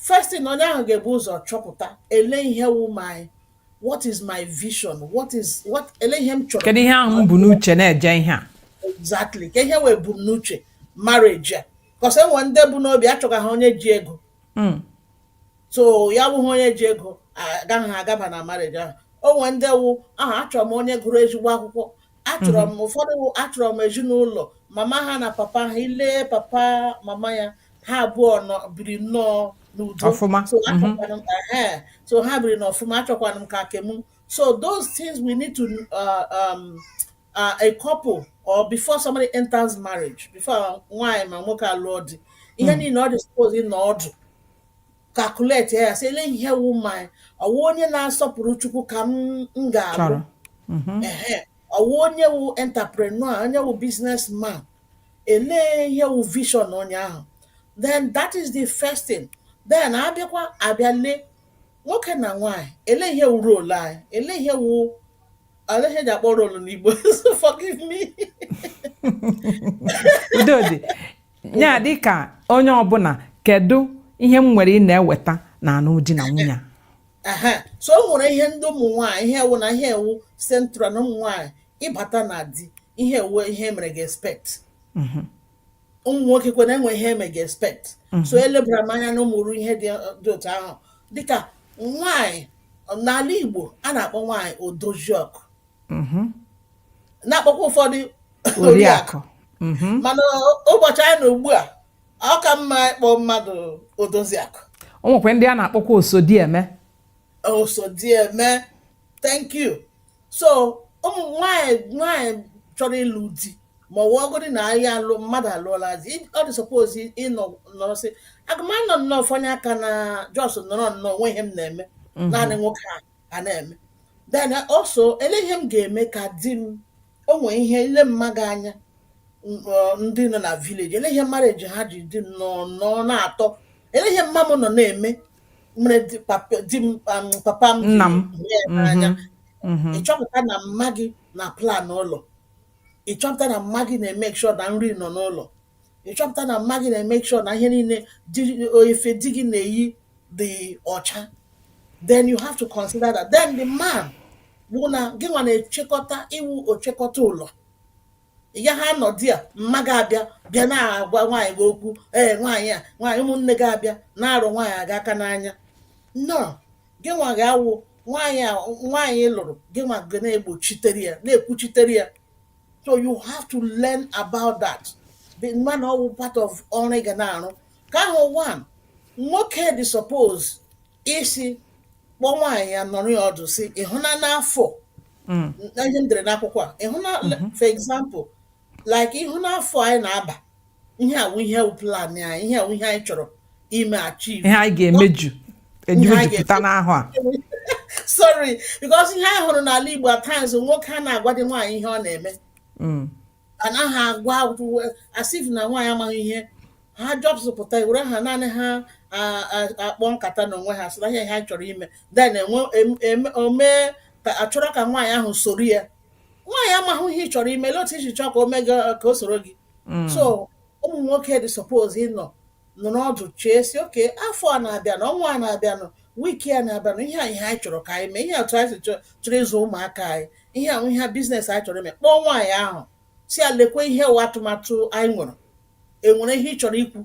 first thing onye ahụ ga-ebu ụzọ chọpụta ele ihe wụ my what is my vision what is what ele ihe m chọrọ kedu ihe ahụ m bu n'uche na-eje ihe a exactly ka ihe wụ ebumnuche marriage a because e nwee ndị bu n'obi achọga ha onye ji ego hmm. so ya bụghị onye ji ego agaghị agaba na marriage ahụ o nwee ndị wụ aha achọrọ m onye gụrụ ezigbo akwụkwọ achọrọ m ụfọdụ wụ achọrọ m ezinụlọ mama ha na papa ha i lee papa mama ya ha abụọ nọ biri nnọọ n'udo Ọfụma. so achọkwara m ehe, so ha biri n'ọfụma achọkwara m ka nke m so those things we need to uh, um, uh, a couple or before somebody enters marriage before nwaanyị ma nwoke alụọ di ihe niile ọ dị suppose ịnọ ọdụ calculate ya sị ele ihe wụ ma ọwụ onye na-asọpụrụ Chukwu ka m m ga-abụ chọrọ Mhm. ehe ọwụ onye wụ entrepreneur onye wụ businessman ele ihe wụ vision onye ahụ then that is the first thing then abịakwa abịa lee nwoke na nwaanyị ele ihe wụ role anyị ele ihe wụ ele ihe e ji akpọ role n'Igbo so forgive me udo dị ya dị ka onye ọbụla kedu ihe m nwere ị na-eweta na anụm di na nwunye a? ehe so o nwere ihe ndị ụmụ nwaanyị ihe a wụ na ihe a wụ central na ụmụ nwaanyị ịbata na di ihe a wụ ihe mere ga expect ụmụ nwokekwanụ e nwere ihe eme ga expect so elebara m anya na ụmụrụ ihe ndị dị otu ahụ dịka nwaanyị n'ala igbo a na-akpọ nwaanyị odoziakụ mm-hmm. na-akpọkwa ụfọdụ oriakụ mm-hmm. mana ụbọchị anyị na ugbu a ọ ka mma ịkpọ mmadụ odoziakụ o nwekwa ndị a na-akpọkwa osodieme osodieme thank you so ụmụ nwanyị nwanyị chọrọ ịlụ di ma ọ wụgodi na ahịa alụ mmadụ alụọla di ọ dị suppose ịnọ nọrọ sị aga m anọ nnọọ fọnye aka na just nọrọ nnọọ o nwe ihe m na-eme mm-hmm. naanị nwoke ahụ ga na-eme then also ele ihe m ga-eme ka di m o nwee ihe ile mma gị anya ndị nọ na village ele ihe marriage ha ji dị nnọọ na-atọ ele ihe mma m nọ na-eme mere di papa di m um, papa m ji Nna m. hụ ya n'anya Mhm. ịchọpụta na mma gị na plan ụlọ ịchọpụta na mma gị na-emake sure na nri nọ n'ụlọ ịchọpụta na mma gị na-emake sure na ihe niile di efe di gị na-eyi dị ọcha then you have to consider that then the man bụ na gị nwa na-echekọta ị wụ ochekọta ụlọ ya ha nọdị a mma gị abịa bịa na-agwa nwaanyị gị okwu ee nwaanyị a nwaanyị ụmụnne gị abịa na-arụ nwaanyị gị aka n'anya no gị nwa ga-awụ nwaanyị a nwaanyị lụrụ gị nwa ga na-egbochitere ya na-ekwuchitere ya so you have to learn about that the man ọ wụ part of ọrụ ị ga na-arụ ka ahụ one nwoke dị suppose isi kpọọ nwaanyị ya nọrọ ya ọdụ sị ị hụna n'afọ Mm. na ihe m dere n'akwụkwọ a ị hụna for example like ị hụna afọ anyị na-aba ihe a wụ ihe wụ plan anyị ihe a wụ ihe anyị chọrọ ime achieve ihe anyị ga-emejupụta n'afọ a sorry because ihe anyị hụrụ n'ala Igbo at times nwoke a na-agwadị nwaanyị ihe ọ na-eme mm. anaghị agwa as if na nwaanyị amaghị ihe ha just pụta were ha naanị ha akpa nkata n'onwe ha sị na ihe ha chọrọ ime then enwe o mee ka a chọrọ ka nwaanyị ahụ soro ya nwaanyị amaghị ihe ị chọrọ ime lee otu i ji chọọ ka o mee ka o soro gị mm. so ụmụ nwoke dị suppose ịnọ nọrọ ọdụ chee sị okay afọ a na-abịanụ ọnwa a na-abịanụ week a na-abịanụ ihe a ihe anyị chọrọ ka anyị mee ihe atụ anyị chọrọ ịzụ ụmụaka anyị ihe a wụ ihe business anyị chọrọ ime kpọọ nwaanyị ahụ sị ya lekwe ihe wụ atụmatụ anyị nwere enwere ihe ị chọrọ ikwu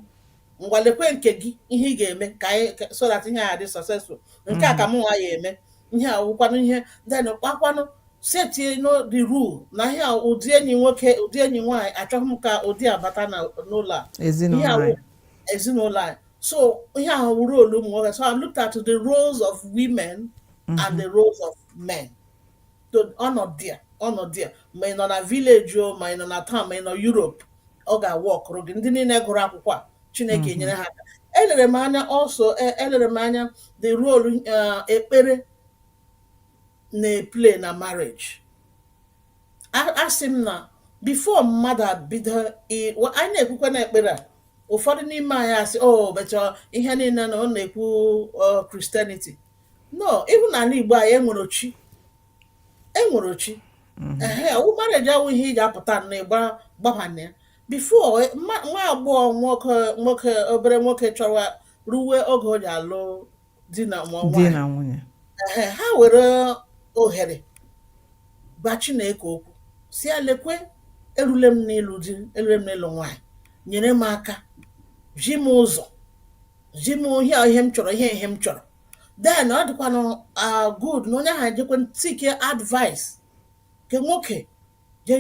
ngwa lekwe nke gị ihe ị ga-eme ka anyị ka- so that ihe a ya-adị successful nke a ka mụ nwa ya-eme ihe a wụkwanụ ihe then kpakwanụ setienụ the rule na ihe a ụdị enyi nwoke ụdị enyi nwaanyị achọghị m ka ụdị a bata na n'ụlọ a ihe ezinụlọ a wụ anyị ezinụlọ anyị so ihe a wụ role ụmụ nwoke so I looked at the roles of women and the roles of men so ọ nọ there ọ nọ there ma ị nọ na village o ma ị nọ na town ma ị nọ Europe ọ ga-awọkụrụ gị ndị niile gụrụ akwụkwọ a Chineke mm-hmm. enyere ha aka elere m anya also e, elere m anya the role uh, ekpere na-eplay na marriage asị m na before mmadụ abido anyị na-ekwukwa na ekpere a ụfọdụ n'ime anyị asị o oh, becha ihe niile na ọ na-ekwu Christianity no even na ala Igbo anyị enwere chi enwere chi mhm. ehe ọwụ marriage awụ ihe ị ga-apụta na ịgba gbaba na ya before e, nwa agbọghọ nwoke nwoke obere nwoke chọwa ruwe oge o ji alụ di na nwunye ehe ha were ohere gwa Chineke okwu sị ya lekwe erule m n'ịlụ di erule m n'ịlụ nwaanyị nyere m aka zi m ụzọ zi m ihe a ihe m chọrọ ihe ihe m chọrọ then ọ dịkwanụ ah, good na onye ahụ ejekwe seek advice ke nwoke jee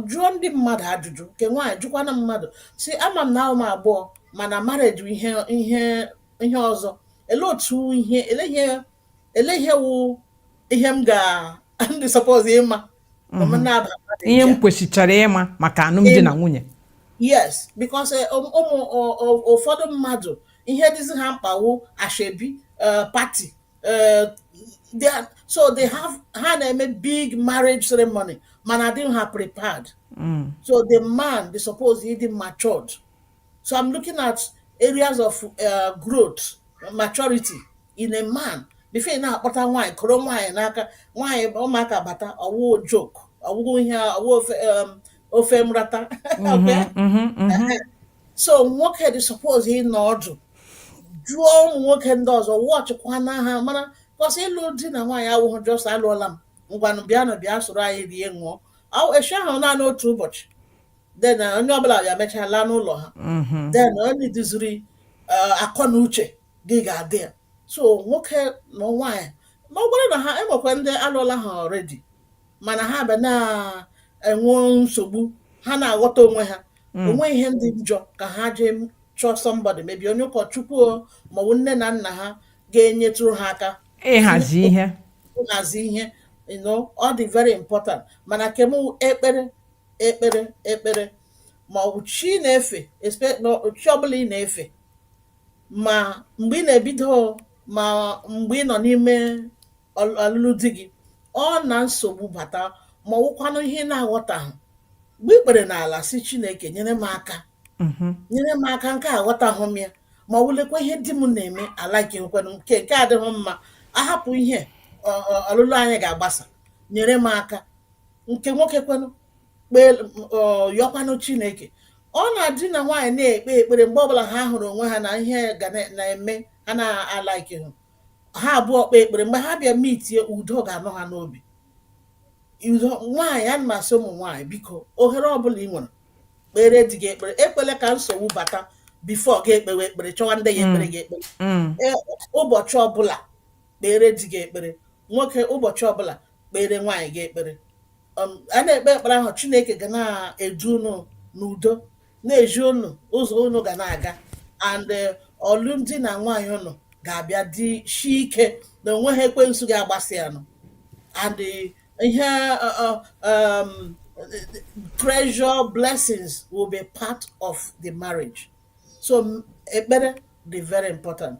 jụọ ndị mmadụ ajụjụ ke nwaanyị jụkwana mmadụ sị ama m na awụ m agbọghọ mana marriage bụ ihe ihe ihe ọzọ ele otu ihe ele ihe ele ihe wụ ihe m ga m dị suppose ịma ma m na-aba mmadụ ihe m ncha. kwesịchara ịma maka alụmdi na nwunye yes because eh, ụmụ ụmụ- ọ- ọ- ụfọdụ mmadụ ihe dịzi ha mkpa wụ ashebi eh, party eh, they are- so they have ha na-eme big marriage ceremony mana adịghị ha prepared so the man dị suppose ịdị matured So I'm looking at areas of uh, growth, maturity in a man. Before ị na-akpọta nwaanyị kụrụ nwaanyị n'aka nwaanyị ụmụaka bata ọwụ joke ọwụghị ihe ọwụ ofe um, ofe mrata mm-hmm, mm-hmm, mm-hmm. so nwoke dị suppose ịnọ ọdụ jụọ ụmụ nwoke ndị ọzọ watchịkwana ha mara 'cause ịlụ di na nwaanyị awụghị just alụọla m ngwanụ bịanụ bịa soro anyị rie ṅụọ echi ahụ naanị otu ụbọchị then eh, onye ọbụla bịa mechaa laa n'ụlọ ha mm-hmm. then onye duziri eh, akọ na uche gị ga-adị ya so nwoke na nwaanyị ma ọ bụrụ na ha enwekwa ndị alụọla ha already mana ha bịa na-enwe nsogbu ha na-aghọta onwe ha mm. o nweghị ihe dị njọ ka ha jee chọọ somebody maybe onye ụkọchukwu maọbụ nne na nna ha ga-enyetụrụ ha aka ịhazi ihe ịhazi ihe ọ dị very important mana kem ekpere ekpere ekpere ma ọ bụ chi ị na-efe chi ọbụla ị na-efe ma mgbe ị na-ebido ma mgbe ị nọ n'ime ọlụlụ di gị ọ na nsogbu bata ma ọwụkwanụ ihe ị na-aghọtaghị gbuo ikpere n'ala sị Chineke nyere m aka mm-hmm. nyere m aka nke aghọtaghị m ya ma ọ wụlekwa ihe di m na-eme alikekwenụ nke nke adịghị mma ahapụ ihe ọlụlụ anyị ga-agbasa nyere m aka nke nwoke kwenụ kpee yọkwanụ chineke ọ na di na nwaanyị na-ekpe ekpere mgbe ọbụla ha hụrụ onwe ha na ihe ga na- na-eme ha na-alikehụ ha abụọ kpee ekpere mgbe ha bịa meetie udo ga-anọ ha n'obi nwaanyị ana m asị ụmụ nwaanyị biko ohere ọbụla ị nwere kpere di gị ekpere ekwele ka nsogbu bata before gị ekpewe ekpere chọwa ndị ga-ekpere gị ekpere Mm. Ee, ụbọchị ọbụla kpere di gị ekpere nwoke ụbọchị ọbụla kpere nwaanyị gị ekpere um, a na-ekpe ekpere ahụ chineke ga na-edu unu n'udo na-ezi unu ụzọ unu ga na-aga and eh, ọlụmdi na nwaanyị unu ga-abịa dịshie ike na o nweghị ekwensu ga-agbasị ya nụ and eh, ihe eh, eh, um, treasure blessings will be part of the marriage so m- ekpere dị very important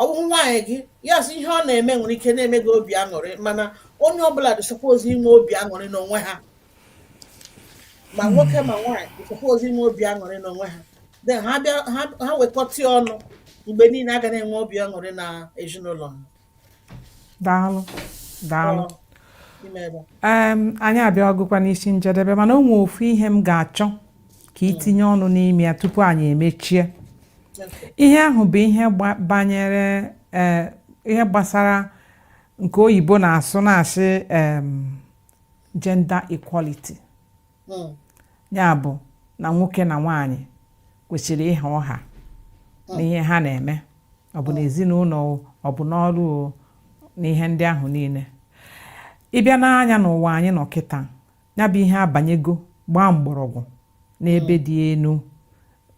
ọ bụghị nwaanyị gị yes ihe ọ na-eme nwere ike na-eme gị obi aṅụrị mana onye ọbụla dị suppose inwe obi aṅụrị n'onwe ha ma hmm. nwoke ma nwaanyị dị suppose inwe obi aṅụrị n'onwe ha then ha bịa ha wekọta ọnụ mgbe niile a ga na-enwe obi aṅụrị na ezinụlọ ha daalụ daalụ anyị abịagokwa n'isi njedebe mana o nwee ofu ihe m ga-achọ ka i tinye ọnụ n'ime ya tupu anyị emechie ihe ahụ bụ ihe banyere e, ihe gbasara nke oyibo na-asụ na-asị gender equality hmm. ya bụ na nwoke na nwaanyị kwesịrị ịha ọha hmm. n'ihe ha na-eme ọ bụ n'ezinụlọ ọ bụ n'ọrụ na ihe ndị ahụ niile ị bịa nee anya n'ụwa anyị nọ kịta ya bụ ihe abanyego gbaa mgbọrọgwụ n'ebe di na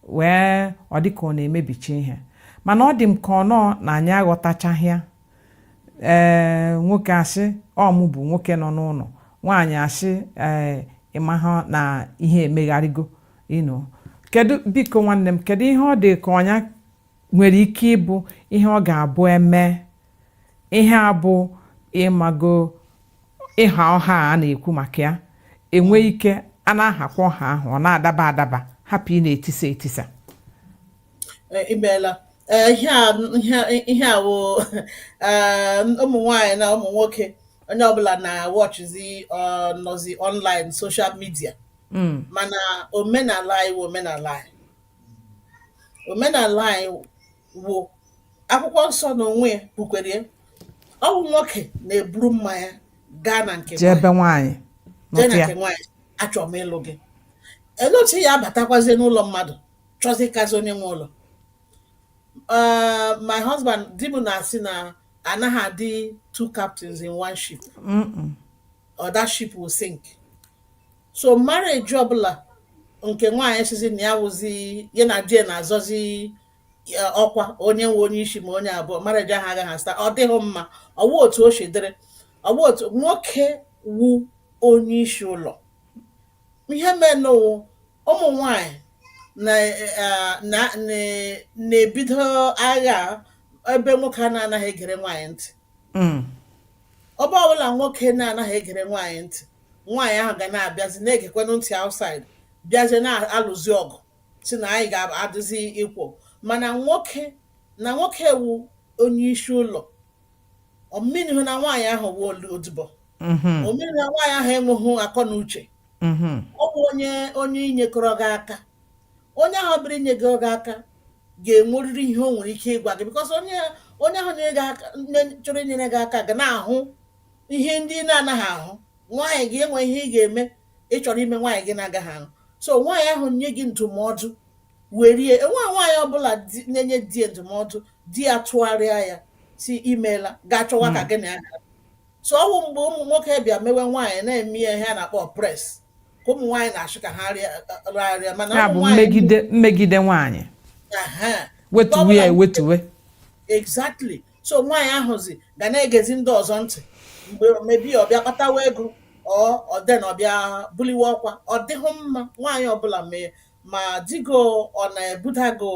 nwunye ọ dị ka ọ na-emebicha ihe mana ọ dị m ka ọnọọ na anyị aghọtachaghị ya ee eh, nwoke asị ọ mụ bụ nwoke nọ n'ụlọ nwaanyị asị ee eh, ị maha na ihe emegharịgo you know kedu biko nwanne m kedu ihe ọ dị ka ọ nya nwere ike ịbụ ihe ọ ga-abụ e mee ihe a bụ ị mago ịha ọha a na-ekwu maka ya e nwee ike a na-ahakwa ọha ahụ ọ na-adaba adaba hapụ ịna-etisa etisa Eh, ị meela ee ihe a ihe ihe a wụ ee ụmụ nwanyị na ụmụ nwoke onye ọbụla na-watchzi ọ nọzi online social media Mm. mana omenala anyị wụ omenala anyị omenala anyị wụ akwụkwọ nsọ na onwe ya kwukwere ya ọ bụ nwoke na-eburu mmanya gaa na nke be nwaanyị ebe nwaanyị jee nọtụ na ya nke nwaanyị achọrọ m ịlụ gị elee otu ya abatakwazie n'ụlọ mmadụ chọzi ịkazi onye nwe ụlọ Uh, my husband di m na-asị na anaghị adị two captains in one ship or that ship will sink so marriage ọbụla nke nwaanyị sịzi na ya wụzi ya na di ya na-azọzi eh, ọkwa onye nwe onye isi ma onye abụọ marriage ahụ agaghị astand ọ dịghị mma ọ wụ otu o si dịrị ọ wụ otu nwoke wụ onye isi ụlọ ihe menụ wụ ụmụ nwanyị na eh, na na- na-ebido agha a ebe nwoke a na-anaghị egere nwaanyị ntị Mm. ebe ọbụla nwoke na-anaghị egere nwaanyị ntị nwaanyị ahụ ga na-abịazi na-egekwenụ ntị outside bịazie na-alụzi ọgụ sị na anyị ga-adịzi equal mana nwoke na nwoke wụ onye isi ụlọ ọ meanhụ na nwaanyị ahụ wụ odibo ọ meanhụ na nwaanyị ahụ enweghị akọ na uche ọ bụ onye onye inyekọrọ gị aka onye ahụ bịara inyekọrọ gị aka ga-enwerịrị ihe o nwere ike ịgwa gị because onye onye ahụ chọrọ inyere gị aka ga na-ahụ ihe ndị ị na-anaghị ahụ nwaanyị gị enwe ihe ị ga-eme ị chọrọ ime nwaanyị gị na-agaghị ahụ so nwaanyị ahụ nye gị ndụmọdụ werie enwe nwaanyị ọbụla na-enye di ya ndụmọdụ di ya tụgharịa ya sị imeela ga-achọwa ka hmm. gị na ya so ọ wụ mgbe ụmụ nwoke bịa mewe nwaanyị na-eme ya ihe a na-akpọ oppress ka ụmụ nwaanyị na-achọ ka ha rịarịa mana ya bụ mmegide mmegide nwaanyị wetuwe ya ewetuwe exactly so nwaanyị ahụzi ga na-egezi ndị ọzọ ntị mgbe maybe ọ bịa kpatawa ego then ọ bịa buliwe ọkwa ọ dịghị mma nwaanyị ọbụla mee ma di gị ọ na-ebuda gị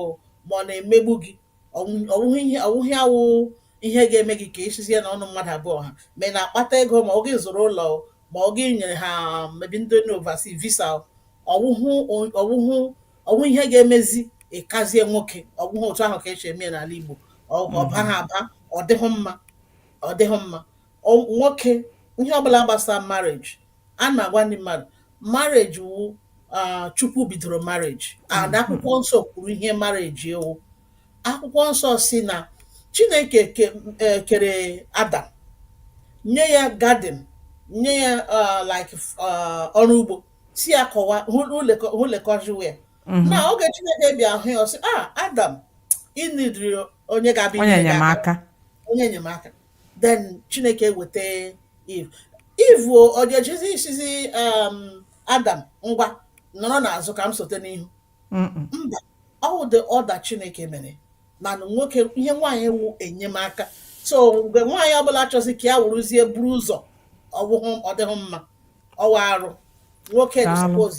ma ọ na-emegbu gị ọ wụghị ya wụ ihe ga-eme gị ka ị sịzie na ụnụ mmadụ abụọ ha ma ị na-akpata ego ma ọ gị zụrụ ụlọ ma ọ gị nyere ha maybe ndị oversea visa ọ wụhụ ihe ga-emezi ị kazie nwoke ọ wụhụ otu ahụ ka e si eme n'ala Igbo ọ baghị aba ọ dịghị mma ọ dịghị mma nwoke ihe ọbụla gbasara marriage ana m agwa ndị mmadụ marriage wụ ah, Chukwu bidoro marriage and akwụkwọ nsọ kwuru ihe marriage wụ akwụkwọ nsọ sị na Chineke ke- eh, kere Adam nye ya garden nye ya ah, like ah, ọrụ ugbo sị ya kọwa hụlekọjiwe ya na oge Chineke bịa hụ ya ọ sị ah Adam ị needịrị onye ga-abụ onye enyemaka onye enyemaka then Chineke eweta Eve Eve ọ ga-ejezi ịsịzị um, Adam ngwa nọrọ n'azụ ka m sote n'ihu mba ọ wụ the order Chineke mere na nwoke ihe nwaanyị wụ enyemaka so mgbe nwaanyị ọbụla chọzi ka ya wụrụzie buru ụzọ ọ dịghị mma ọ wụ arụ nwoke suppose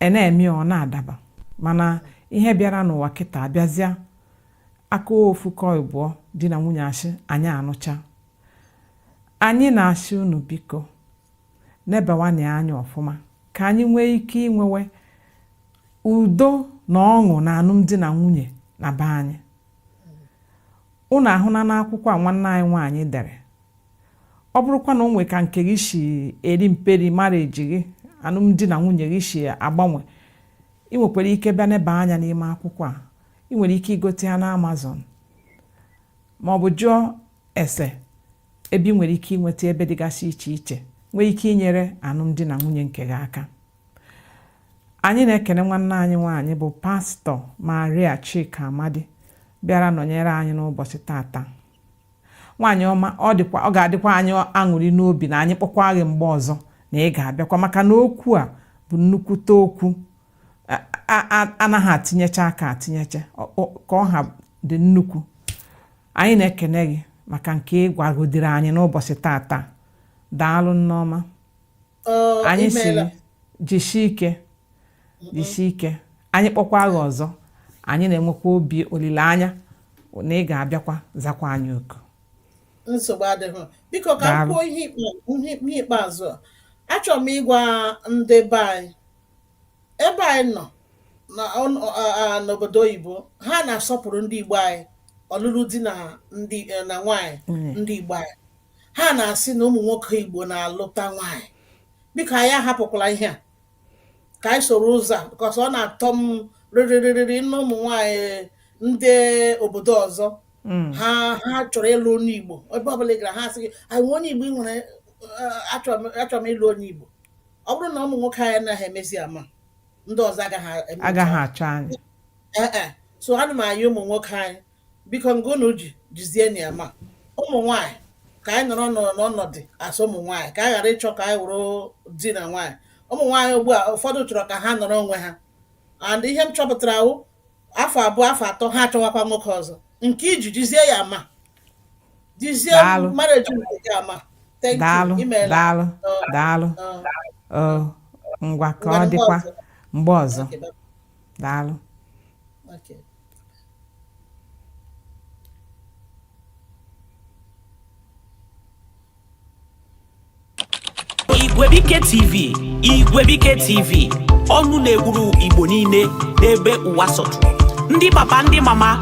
e na-eme ọ na-adaba mana ihe bịara n'ụwa kịta abịazịa a kọọ ofu kọọ ịbụọ di na nwunye asị anyị anụcha anyị na-asị unu biko nebawanye anya ọfụma ka anyị nwee ike inwewe udo na ọṅụ na alụmdi na nwunye na be anyị unu ahụna n'akwụkwọ a nwanne anyị nwaanyị dere ọ bụrụkwa na o nwee ka nke gị si eri mperi marriage gị alụmdi na nwunye gị si agbanwe ị nwekwara ike bịa neba anya n'ime akwụkwọ a ị nwere ike igote ya na Amazon ma ọ bụ jụọ ese ebe ị nwere ike inweta ebe dịgasị iche iche nwee ike inyere alụmdi na nwunye nke gị aka anyị na-ekene nwanne anyị nwaanyị bụ pastọ Maria Chika Amadi bịara nọnyere anyị n'ụbọchị tata nwaanyị ọma ọ dịkwa ọ ga-adịkwa anyị aṅụrị n'obi na anyị kpọkwa gị mgbe ọzọ na ị ga-abịakwa maka na okwu a bụ nnukwute okwu anaghị etinyecha aka etinyecha ka ọ ha dị nnukwu anyị na-ekene gị maka nke ị gwagodiri anyị n'ụbọchị tata daalụ nneọma anyị sịrị jishi ike jishi ike anyị kpọkwa gị ọzọ anyị na-enwekwa obi olileanya na ị ga-abịakwa zakwa anyị oku nsogbu adịghị biko ka m kwuo ihe ikpeazụ a achọrọ m ịgwa ndị be anyị ebe anyị nọ n'obodo oyibo ha na-asọpụrụ ndị Igbo anyị ọlụlụ di na ndị e, na nwaanyị mm. ndị Igbo anyị ha na-asị na ụmụ nwoke Igbo na-alụta nwaanyị biko anyị ahapụkwala ihe a ka anyị soro ụzọ a because ọ na-atọ m rịrịrịrịrị na ụmụ nwaanyị ndị obodo ọzọ mm. ha ha chọrọ ịlụ onye Igbo ebe ọbụla ị gara ha asị gị o nwe onye Igbo ị nwere eh, achọrọ m ịlụ onye Igbo ọ bụrụ na ụmụ nwoke anyị anaghị emezi ama ndị ọzọ agaghị achọ anyị eh, eh. so ana m ayọ ụmụ nwoke anyị biko nke unu ji jizienụ ya ama ụmụ nwaanyị ka anyị nọrọ n'ọnọdụ as ụmụ nwaanyị ka anyị ghara ịchọ ka anyị wụrụ di na nwaanyị ụmụ nwaanyị ugbu a ụfọdụ chọrọ ka ha nọrọ onwe ha and ihe m chọpụtara wụ afọ abụọ afọ atọ ha achọwakwa nwoke ọzọ nke i ji jizie ya ama jizie marriage nke gị ama daalụ thank you imeela daalụ daalụ Ọ, ọ, ngwa ka ọ dịkwa mgbe ọzọ Okay, bye. daalụ Igwebike TV Igwebike TV ọnụ na-ekwuru Igbo niile n'ebe ụwa sọtụrụ ndị papa ndị mama